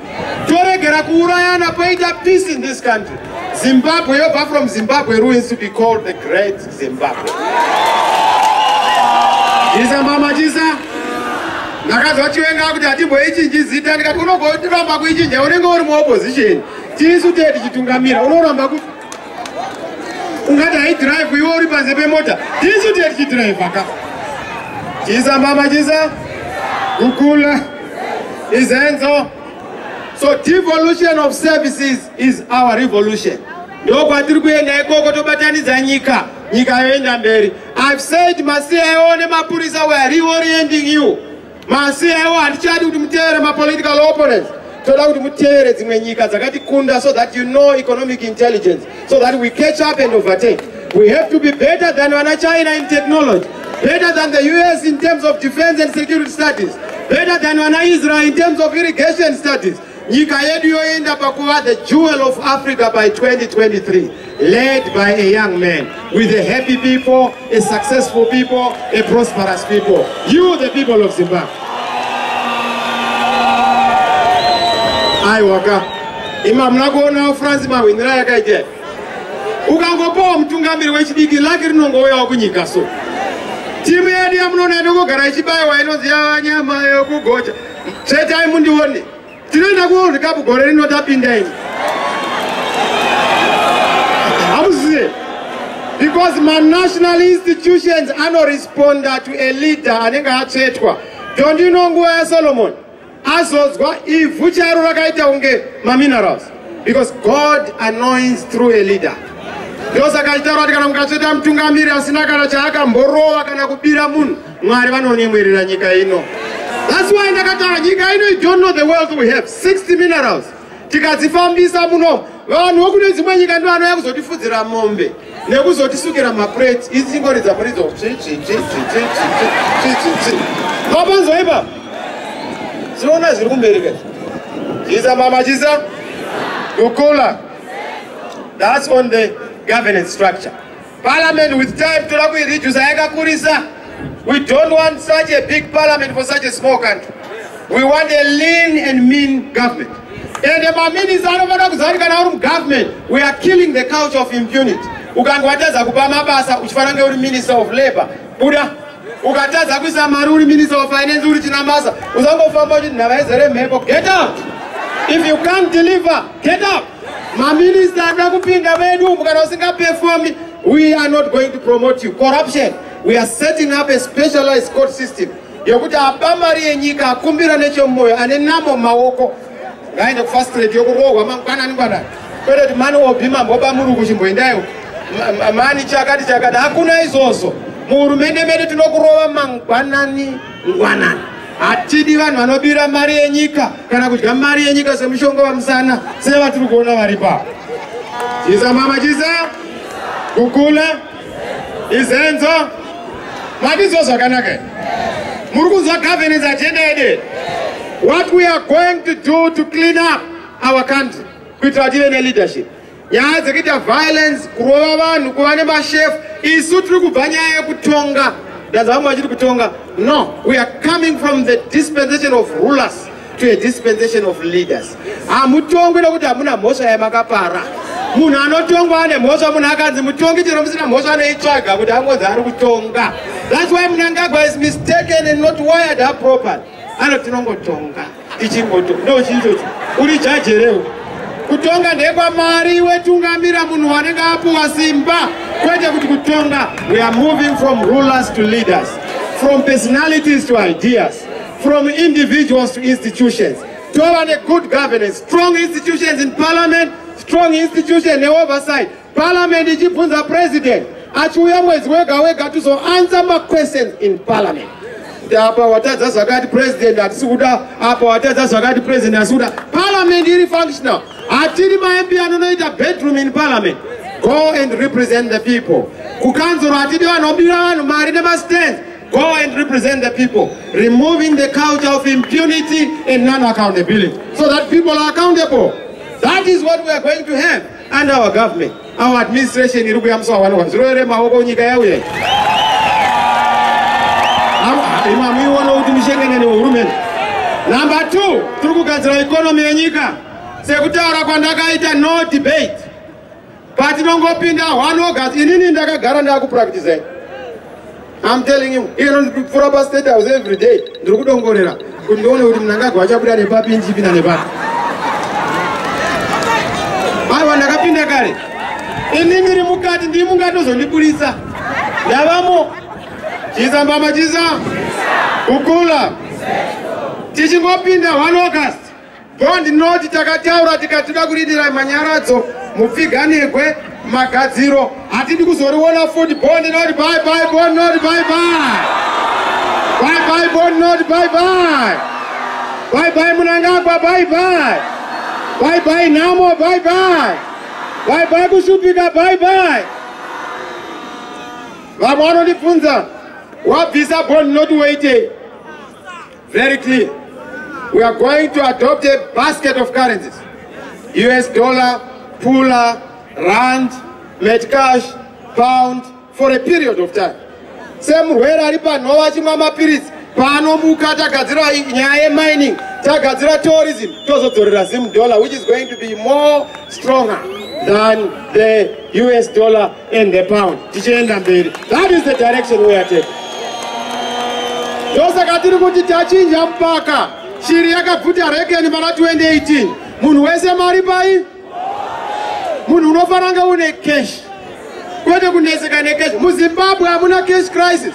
toregera kuurayana poita peace in this country zimbabwe yobva from zimbabwe ruins to be called the great zimbabwe isa mama chisa ndakanzwa chiwenga kuti hatimboichinji zita ndikati unogotiramba kuichinja unenge uri muopposition tisu tee tichitungamira unoramba kuti ungati haidhiraivhi iwe uri panze pemota tisu tiechidhiraivha ka chisa mama chisa kukula izenzo so devolution of services is our revolution ndo kwatiri kuenda ikoko tobatanidza nyika nyika yoenda mberi ive said masia iwo nemapurisa weare reorienting you Masewo hatichadi kuti mutevere mapolitical opponents toda kuti mutevere dzimwe nyika dzakatikunda so that you know economic intelligence so that we catch up and overtake we have to be better than vana china in technology better than the us in terms of defense and security studies better than vana israel in terms of irrigation studies Nyika yedu yoenda pakuva the jewel of Africa by 2023 led by a young man with a happy people, a successful people, a prosperous people. You the people of Zimbabwe. Ai waka. Ima mna kuona France mahwinira yakaita. Ukangopawo mutungamiri wechidiki lake rinongouyawo kunyika so. Timu yedu yamunoona inongogara ichibayiwa inonzi yava nyama yokugocha. Tsvetai mundione. Tinoenda kuWorld Cup gore rino tapinda ini. Hamuziye. Because my national institutions anoresponda to a leader anenge atsvetwa. Don't you know nguva yaSolomon? Azodzwa ivhu charo rakaita kunge maminerals. Because God anoints through a leader. Ndosaka achitaura kuti kana mukatsveta mutungamiri asina kana chaakamborova kana kubira munhu Mwari vanonyemwerera nyika ino. That's why ndakataura nyika ino you don't know the wealth we have 60 minerals tikadzifambisa muno vanhu vokune dzimwe nyika ndo vanouya kuzotifudzira mombe nekuzotisukira maprate idzi chingoridza muridzo vapanzwa ipa tinoona zviri kumberi ka chisa mama chisa kukula that's on the governance structure Parliament with time toda kuireduce yakakurisa. We don't want such a big parliament for such a small country. We want a lean and mean government. And the maminisa anofanira kuziva kuti kana uri mugovernment we are killing the culture of impunity. Ukange watadza kupa mabasa uchifanira kunge uri minister of labour. Buda. ukatadza kuisa mari uri minister of finance uri china masa usangofamba uchiti nhava izere mhepo get up if you can't deliver get up maminista anoda kupinda vedu umu kana usingaperfomi we are not going to promote you corruption we are setting up a specialized court system yokuti apa mari yenyika akumbira nechemumwoyo ane namo maoko ngaende kufast trade yokurohwa mangwanani ngwanani kwete kuti mani obi mambo bamuruku chimboendaiwo mani chakati chakati hakuna izvozvo muhurumende medu tinokurova mangwanani ngwanani hatidi vanhu vanobira mari yenyika kana kudya mari yenyika semushonga vamusana sevatiri kuona vari paa chisa mama chisa kukula izenzo matizwa zvakanaka muri kunzwa governance agenda yede what we are going to do to clean up our country kuitira kuti ive neleadership nyaya dzekuita violence kurova vanhu kuva nemashefu isu tiri kubva nyaya yekutonga ndazavamwe vachiri kutonga no we are coming from the dispensation of rulers to a dispensation of leaders hamutongwi nokuti hamuna mhosva yamakapara munhu anotongwa ane mhosva munhu akanzi mutongi chero musina mhosva anoitsvaga kuti angonzi ari kutonga thats why munangagwa is mistaken and not wired up proper ano tinongotonga tichingoto ndo chiichocho uri jajereu kutonga ndekwamari wetungamira munhu wanenge apuwa simba kwete kuti kutonga we are moving from rulers to leaders from personalities to ideas from individuals to institutions tova negood governance strong institutions in parliament strong institution neoversight parliament ichibvunza president achiuya mwedzi wega wega tizoansa maquestions in parliament apa watadza zvakati president hatisi kuda apa watadza zvakati president hatisi kuda parliament iri functional hatiri mamp anonoita bedroom in parliament go and represent the people kukanzuro hatidi vanhu obira vanhu mari nemastands Go and represent the people, removing the culture of impunity and non-accountability, so that people are accountable. That is what we are going to have under our government. Our administration iri kuya musawa wani wazviro ere maoko nyika yauya. Imami iwona kuti mishengene ne hurumende. Number 2, tiri kugadzira economy yenyika. Sekutaura kwandakaita no debate. patinongopinda one august inini ndakagara ndakupractisai I'm telling you, iye ndipfura pa state house every day ndiri kudongorera kuti ndione kuti mnangagwa achabuda nepapi ndichipinda nepapi aiwa ndakapinda kare ini ndiri mukati ndii mungatozondiburitsa ndavamo chiza mbama chiza kukula tichingopinda one august Ko ndinoti takataura tikatida kurindira manyaradzo mupfiganirwe magadziro hatidi kuzoriona futi bondi noti bye bye bondi noti bye bye bye bye bondi noti bye bye bye bye munangagwa bye bye bye bye nhamo bye bye bye bye kushupika bye bye vamwe vanondibvunza wabvisa bondi noti waitei Very clear. We are going to adopt a basket of currencies. US dollar, pula, rand, metcash, pound for a period of time. Semurwere ari panhova achimwa mapiritsi paanomuka tagadzira nyaya yemining tagadzira tourism tozodzorera zim dollar which is going to be more stronger than the us dollar and the pound tichienda mberi that is the direction we are taking ndosaka tiri kuti tachinja mpaka shiri yakabvuta rekeni pana 2018 munhu wese mari pai munhu unofanira kunge une cash kwete kuneseka necash muzimbabwe hamuna cash crisis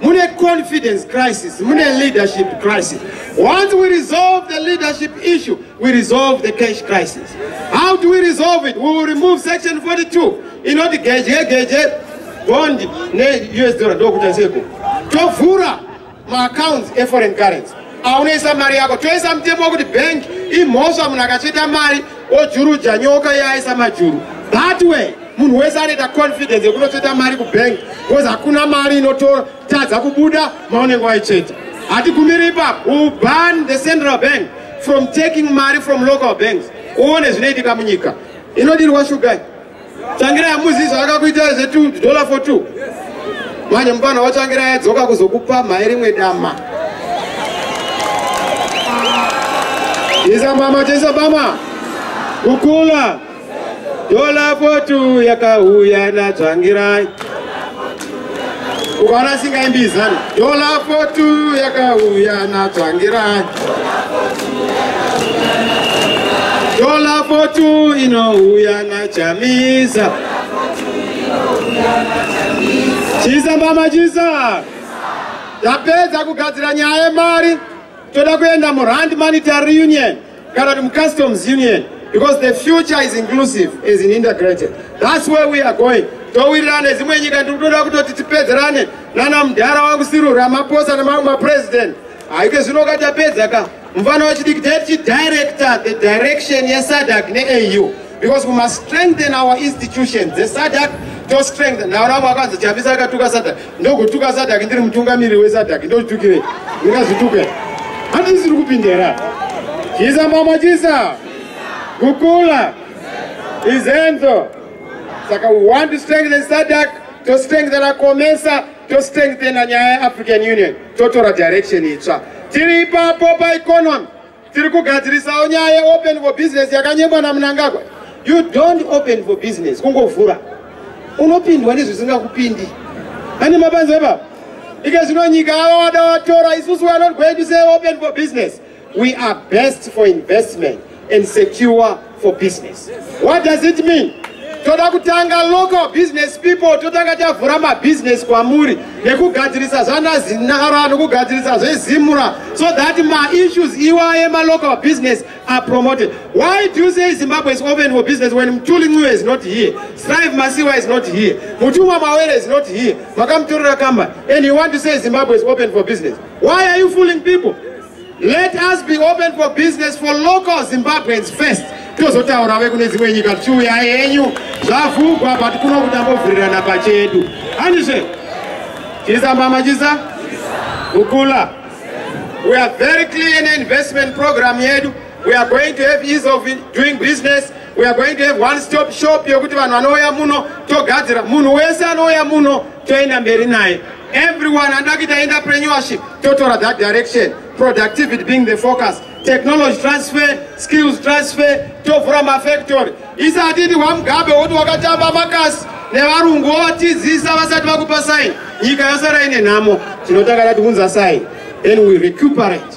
mune confidence crisis mune leadership crisis once we resolve the leadership issue we resolve the cash crisis how do we resolve it we will remove section 42 inoti geje geje bond neus dollar ndokuita seko tovhura maaccounts eforeign currency aunoisa mari yako toisa mutemo wekuti bank imhosva munhu akacheta mari ojuruja nyoka yaaisa majuru that way munhu wese anoita confidence yekunotsveta mari kubank bcause hakuna mari inototadza kubuda maunenge waitsveta hatigumiri ipapo will ban the central bank from taking mari from local banks uone zvinoitika munyika inodirwa shugai tsvangira yamuzi zvavakakuita zvedollar for two manje mupana watsvangira yadzoka kuzokupa mhai rimwe dama isa mama tisa mama kukula Dola fotu yakauya natsvangirai ukaona singaimbi izano dola fotu yakauya natsvangirai dola fotu inouya nachamisa chisa mbama chisa tapedza kugadzira nyaya yemari toda kuenda murand monetary union kana kuti mucustoms union because the future is inclusive as in integrated thats where we are going towirirana nezimwe nyika ndiri kutoda kutoti tipedzerane nana mudhara wangu siru ramaposa nemamwe mapresident haike zvino ka tapedza ka mufana wechidiki taiti chidirector the direction yesadak neau because we must strengthen our institutions dzesadak tostrengthen nawo ramwe akanzi chamisa akatuka sadak ndogotuka sadhaki ndiri mutungamiriri wesadhaki ndotukire ndingazvituke handisiri kupindera chisa mama chisa kukula izenzo saka we want to strengthen sadhak to strengthen akomesa to strengthen nyaya yeafrican union totora direction itsva tiri ipapo paeconomy Tiri kugadzirisawo nyaya yeopen for business yakanyebwa naMnangagwa. You don't open for business, kungovhura. Unopindwa nezvisingakupindi. Ani mabanze baba? Ike zvino nyika yavo wada watora, isusu we are not going to say open for business. We are best for investment and secure for business. What does it mean? toda kutanga local business people totanga tavhura mabusiness kwamuri nekugadzirisa zvanazinara nokugadzirisa zvezimura so that maissues iwaye malocal business are promoted why do you say zimbabwe is open for business when mtuli nciwe is not here strive masiwa is not here mutumwa mawere is not here makamutorera kambani and you want to say zimbabwe is open for business why are you fooling people Let us be open for business for local Zimbabweans first. Tozotaura vekune dzimwe nyika tichiuya henyu zvavhugwa but kuno kutambovirirana pachedu. Handizve? Chisa mama chisa? Kukula. We are very clear in investment program yedu. We are going to have ease of doing business. We are going to have one stop shop yokuti vanhu vanouya muno togadzira munhu wese anouya muno toenda mberi naye everyone anoda kuita entrepreneurship totora that direction productivity being the focus technology transfer skills transfer tovhura mafactory isatiti wamugabe woti wakatamba makasi nevarungu wovatizisa vasati vakupa saini nyika yasara ine nhamo tinotanga tati unza saini then we recuperate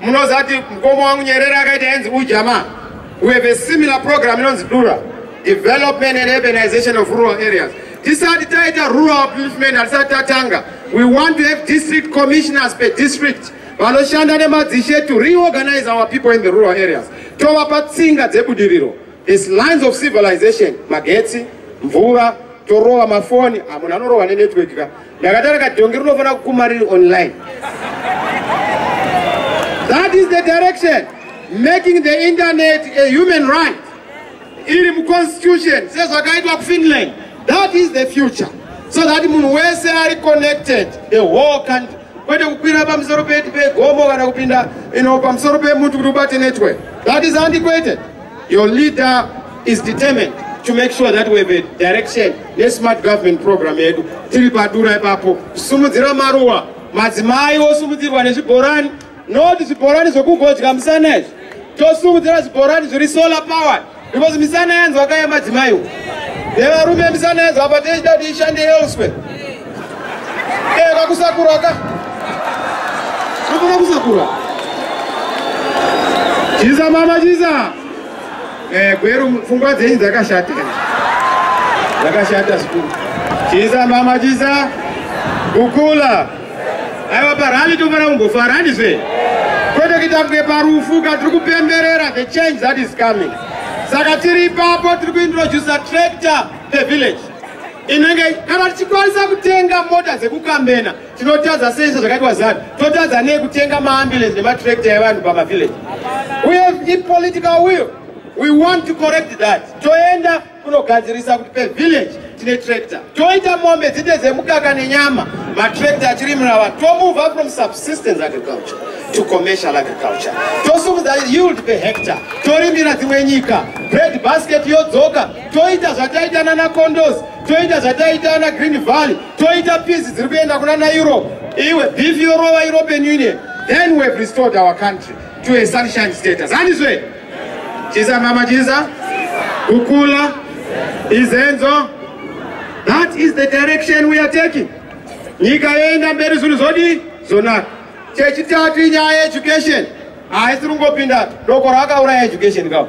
munozati mukoma wangu nyerere akaita yanzi ujama we have a similar program inonzi dura development and urbanization of rural areas tisati taita rural upliftment hatisati tatanga we want to have district commissioners per district vanoshanda nemadzishe to reorganize our people in the rural areas tovapa tsinga dzebudiriro is lines of civilization magetsi mvura torova mafoni amunhu ah, anorova nenetwork ka Ndakatara kadhongi rinofanira kukuma riri online. That is the direction making the internet a human right. Iri mu constitution sezvakaitwa ku Finland. That is the future. So that munhu wese ari connected the whole country. Kwete kukwira pamusoro pegomo kana kupinda ino pamusoro pemuti kuti ubate network. That is antiquated. Your leader is determined to make sure that we have a direction nesmart government program yedu tiri padura ipapo kusimudzira maruwa madzimai osumudzirwa nezvibhorani not zvibhorani zvokungodya musana izvi tosumudzira zvibhorani zviri solar power because misana yanzwa kaya madzimaiwo nevarume misana yanzwa apa tichida kuti ishande elsewhere Eh, vakusakura ka. Vafana kusakura. Chiza mama chiza. Eh, gweru pfungwa dzenyu dzakashata. Dzakashata sikuru. Chiza mama chiza. Kukula. Aiwa parani tofana kungofara handizve. Kwete kuita kunge parufu ka tiri kupemberera the change that is coming. Saka tiri ipapo tiri kuintroducer tractor the village. inenge kana tichikwanisa kutenga mota dzekukambena tinotadza sei sezvakaitwa zanu totadza nei kutenga maambulance nematrakta evanhu pamavillage uye ipolitical will we want to correct that toenda kunogadzirisa kuti pevillage tine tractor toita mombe dzite dzemukaka nenyama matractor achirimira vanhu tomova from subsistence agriculture to commercial agriculture tosumudza yield pehector torimira dzimwe nyika bread basket yodzoka toita zvataita nana condos toita zvataita ana green valley toita piece dziri kuenda kuna na europe iwe beef yorova european union then we have restored our country to a sunshine status handizve chisa mama chisa kukula izenzo that is the direction we are taking nyika yoenda mberi zvinhu zvodi zonaka chechitatu inyaya yeeducation haisi kungopinda doko rakauraya education kavo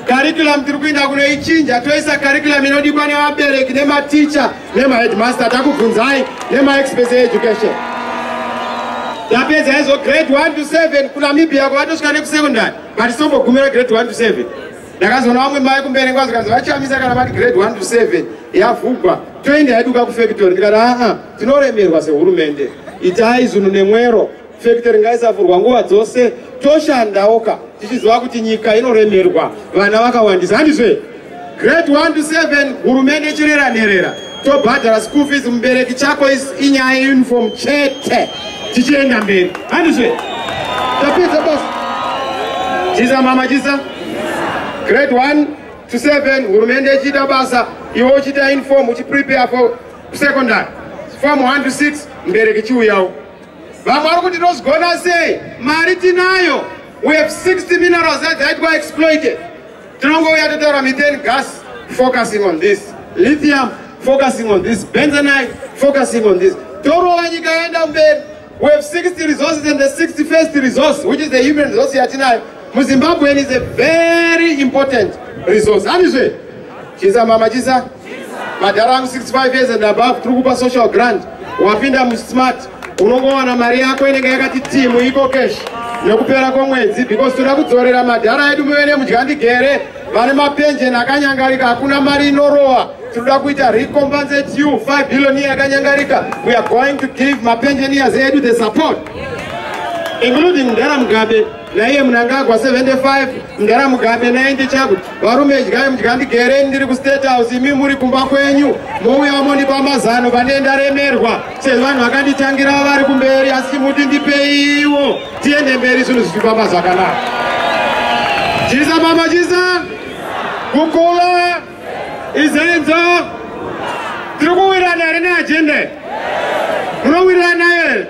curriculum tiri kuinda kunoichinja toisa curriculum inodikwa nevabereki nematicha nemaheadmaster takubvunzai nemaexpert eeducation tapedza izvo grade 1 to 7 kunamibia kwavatosvika nekusecondary but sombogumira grade 1 to 7 ndakazoona vamwe mai kumberi ngwa zvikanzi vachamisa kana vati grade 1 to 7 yavhugwa toenda yaduka kufactory ndikati aa tinoremerwa sehurumende itai zunhu nemwero Factory ngaisavhurwa nguva dzose toshandawo ka tichiziva kuti nyika inoremerwa vana vakawandisa handizve grade 1 to 7 hurumende ichirera nherera tobhadhara school fees mubereki chako inyaya yeuniform chete tichienda mberi handizve tapedza basa chisa mama chisa grade 1 to 7 hurumende ichiita basa iwe uchiita uniform uchiprepare for secondary form 1 to 6 mubereki chiuyawo vamwe vari kuti tozigona sei mari tinayo we have 60 minerals that dzaitwa exploited tinongouya totaura methane gas focusing on this lithium focusing on this benzonite focusing on this torova nyika yaenda mberi we have 60 resources and the 61st resource which is the human resource yatinayo muzimbabwean is a very important resource handizve chisa mama chisa madhara angu 65 years and above tiri kupa social grant wapinda musmart unongowana mari yako inenge yakati timu iko cash nekupera kwomwedzi because toda kudzorera madhara edu muve nemudya ndigere vane mapenjeni akanyangarika hakuna mari inorowa tinoda kuita recompensate you 5 billion year yakanyangarika we are going to give mapenjeniers edu the support including mdhara mugabe naiye munangagwa 75 mdara mugabe 90 chakuti varume idyai mudya ndigereni ndiri kustate house imi muri kumba kwenyu mouya monipa mazano pane ndaremerwa sezvo vanhu vakanditangira vari kumberi asi chimuti ndipeiwo tiende mberi zvinhu zvichifamba zvakanaka chisa mama chisa kukula Izenzo tiri kuwirirana here neajenda iyi? Munowirirana here?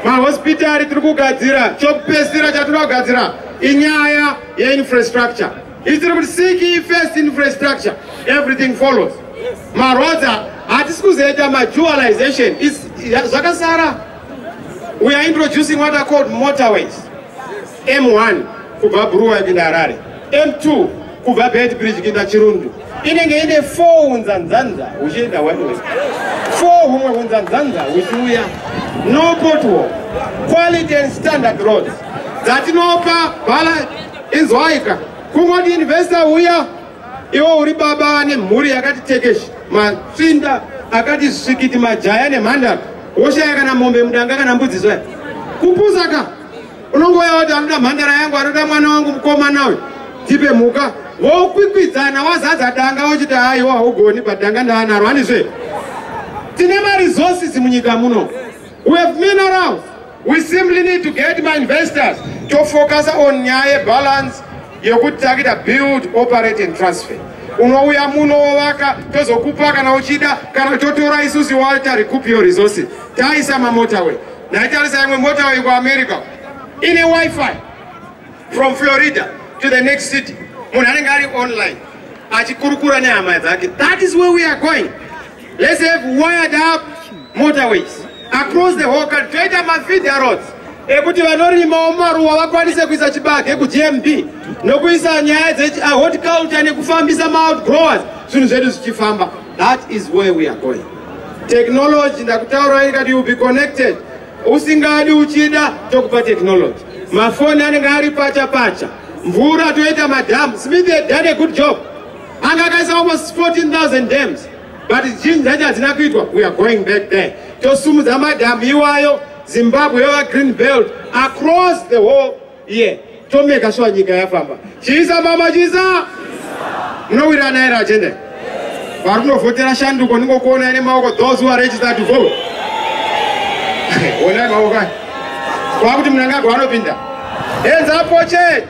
Mahospitari tiri kugadzira, chokupesira chatiri kugadzira inyaya yeinfrastructure. Isiri kuti seek ye first infrastructure, everything follows. Marodza hatisi kuzoita madualization, It's- ya- zvakasara. We are introducing what are called motorways. M1 kubva Buruwa kuenda Harare, M2 kubva Bed Bridge kuenda Chirundu inenge ine 4 hunzanzanza huchienda one way, 4 humwe hunzanzanza huchiuya. No pothole, quality and standard roads dzatinopa bhala inzwaika kungoti investor huya iwo uri baba ane mhuri yakati tekeshi matsvinda akati svikiti majaya nemhandara woshaya kana mombe mudanga kana mbudzi zvaya kupusa ka unongouya wati anoda mhandara yangu anoda mwana wangu mukomana uyu tipe mhuka vokwikwidzana wazadza danga wochiti haiwo haugoni but danga ndaanaro handizve tine maresources munyika muno we have minerals we simply need to get mainvestors tofocusa on nyaya yebalance yekuti takuita build operate and transfer unouya muno wovaka tozokupa kana uchida kana totora isusi walter recoup your resources taisa mamotorway Naitarisa imwe mota wayo kuAmerica ine wifi from Florida to the next city. Munhu anenge ari online achikurukura nehama dzake. That is where we are going. Let's have wired up motorways across the whole country. Toita mafeeder roads ekuti vanorimawo maruwa vakwanise kuisa chibage kuGMB nokuisa nyaya dzehorticulture nekufambisa maoutgrowers zvinhu zvedu zvichifamba. That is where we are going. Technology ndakutaura ikati you be connected. Usingadi uchida tokupa technology. Mafoni anenge ari pacha pacha. Mvura toita madam. Smith had done a good job. Anga akaisa almost 14,000 dams. But zhinji dzacho hadzina kuitwa. We are going back there. Tosumudza madam iwayo Zimbabwe yava green belt across the whole iye yeah. tomeka shuwa nyika yafamba chisa mama chisa munowirirana here agenda yes. vari kunovhotera shanduko ndingokuona ine maoko those who are registered to vote onai maoko aya kwakuti munangagwa anopinda enza pocheti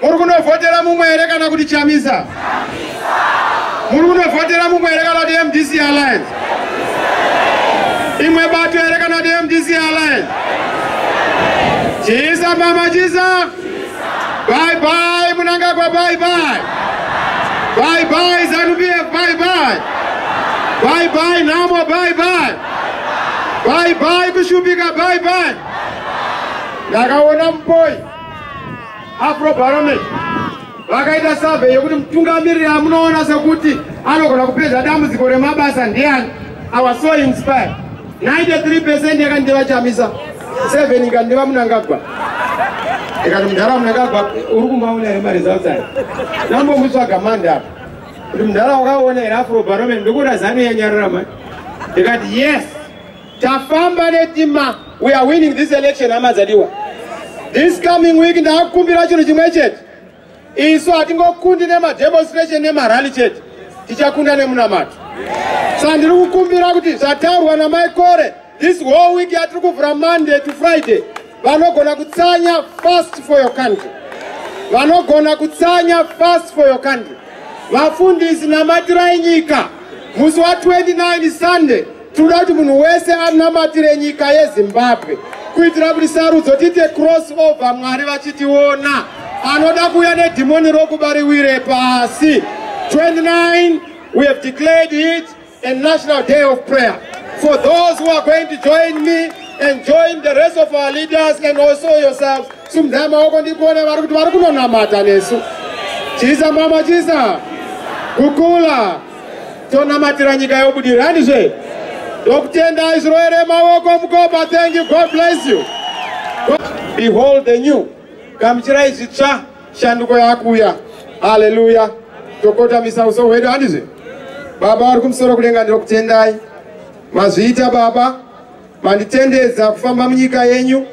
Muri kunovhotera mumwe here kana kuti Chamisa? Muri kunovhotera mumwe here kana kuti MDC Alliance? Imwe bato here kana kuti MDC Alliance? Chisa mama chisa. Bye bye Munangagwa bye bye. Bye bye Zanu PF bye bye. Bye bye Namo bye bye. Bye bye kushupika bye bye. Ndakaona mboyi. afrobarometer vakaita survey yekuti mutungamiriri amunoona sekuti anogona kupedza dambudziko remabasa ndiani our so inspired 93 percent yakandeva chamisa 7 ikandeva munangagwa ikati mudhara munangagwa uri kumbaona here maresults ayo ndambomutsvaga mandi apa kuti mudhara wakaona here afrobarometer ndikuona zanu yanyarara mani ikati yes tafamba netima we are winning this election hama dzadiwa this coming week ndakukumbira chinhu chimwe chete isu hatingokundi nemademonstration nemarally chete tichakunda nemunamato sa ndiri kukumbira kuti zvataurwa namai kore this whole week yatiri kuvhura monday to friday vanogona kutsanya fast for your country vanogona kutsanya fast for your country vafundisi namatirai nyika musi wa 29 sunday tinoda kuti munhu wese anamatire nyika yezimbabwe kuitira kuti sarudzo tiite cross over mwari vachitiona anoda kuuya nedhimoni rokubariwire pasi 29 we have declared it a national day of prayer for those who are going to join me and join the rest of our leaders and also yourselves sumdai maoko ndikuone vari kuti vari kunonamata nesu chisa mama chisa kukula tonamatira nyika yobudirani zve ndokutendai zviroere maoko mukopa thank you god bless you behold the new gamuchirai zvitsva shanduko yakuuya haleluya tokotamisa uso hwedu handizve baba vari kumusoro kudenga ndinokutendai mazviita baba manditendedza kufamba munyika yenyu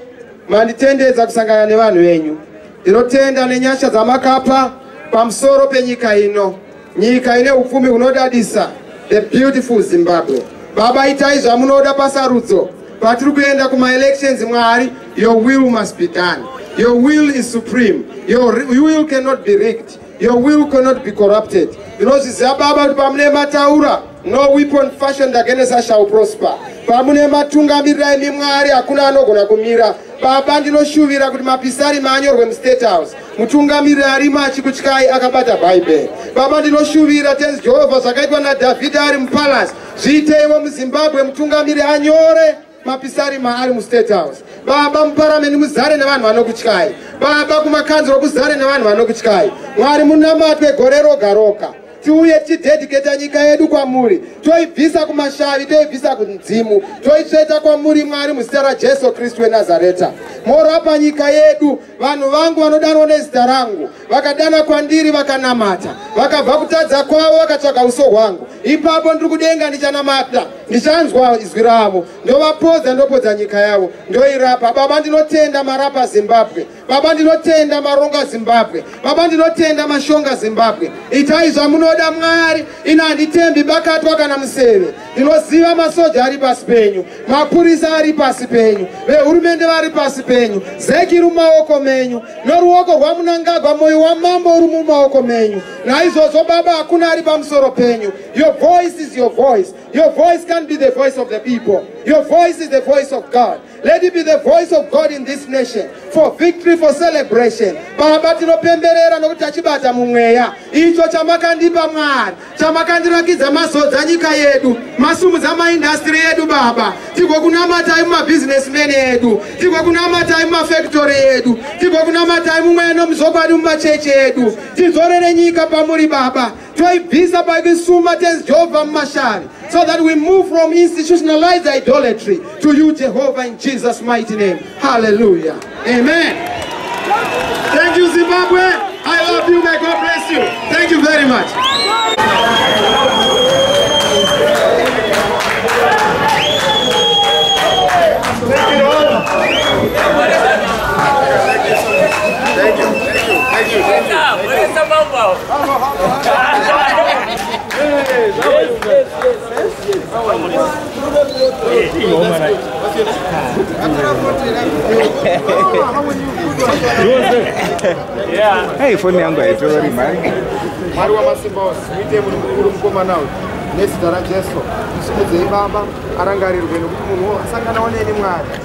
manditendedza kusangana nevanhu venyu ndinotenda nenyasha dzamakapa pamusoro penyika ino Nyika ine upfumi hunodadisa, the beautiful Zimbabwe. Baba itai zvamunoda pasarudzo patiri kuenda kumaelections mwari your will must be done your will is supreme your will cannot be rigged your will cannot be corrupted ndinozviziva baba kuti pamune mataura no weapon fashioned against us shall prosper pamune matungamirira imi mwari hakuna anogona kumira baba ndinoshuvira kuti mapisari maanyorwe mustate house mutungamiriri ari machi kutyai akabata bhaibheri baba ndinoshuvira tenzi jehovha zvakaitwa nadhavhidhi ari mupalasi zviiteiwo muzimbabwe mutungamiriri anyore mapisari maari mustate house baba muparameni muzare nevanhu vanokutyai baba kumakanzuro kuzare nevanhu vanokutyai mwari munamatwe gore roga roga tiuye tichidediketa nyika yedu kwamuri toibvisa kumashavi toibvisa kunzimu toitsveta kwamuri mwari muzita rajesu kristu wenazareta morapa nyika yedu vanhu vangu vanodanwa nezita rangu vakadana kwandiri vakanamata vakabva kutadza kwavo vakatsvaga uso hwangu ipapo ndiri kudenga ndichanamata ndichanzwa izwi ravo ndovapodza ndopodza nyika yavo ndoirapa baba ndinotenda marapa zimbabwe baba ndinotenda maronga zimbabwe baba ndinotenda mashonga zimbabwe itai zvamunoda mwari ini handitembi bakatwa kana museve ndinoziva masoja ari pasi penyu mapurisa ari pasi penyu vehurumende vari pasi penyu zeki iri mumaoko menyu noruoko rwamunangagwa mwoyo wamambo uri mumaoko menyu naizvozvo baba hakuna ari pamusoro penyu your voice is your voice your voice can be the voice of the people your voice is the voice of god Let it be the voice of God in this nation for victory for celebration. Baba tinopemberera nokuti tachibata mumweya icho chamakandipa Mwari, chamakandirakidza mazodza nyika yedu, masumudza maindastry yedu Baba, tigokunamatai mumabusinessmen edu, tigokunamatai mumafactory edu, tigokunamatai mumweya nomuzokwadi mumachechi edu, tidzorere nyika pamuri Baba. toibvisa pavisuma tenzi jehovha mumashavi so that we move from institutionalized idolatry to you jehovha in jesus mighty name hallelujah amen thank you zimbabwe i love you may god bless you thank you very much Hey, phone yangu haitori mari. Mwari wamasimba ose, muite munhu mukuru mukomana uyu nezita raJesu. Musimudzei Baba, arangarirwe nokuti munhu asanganawo neni Mwari.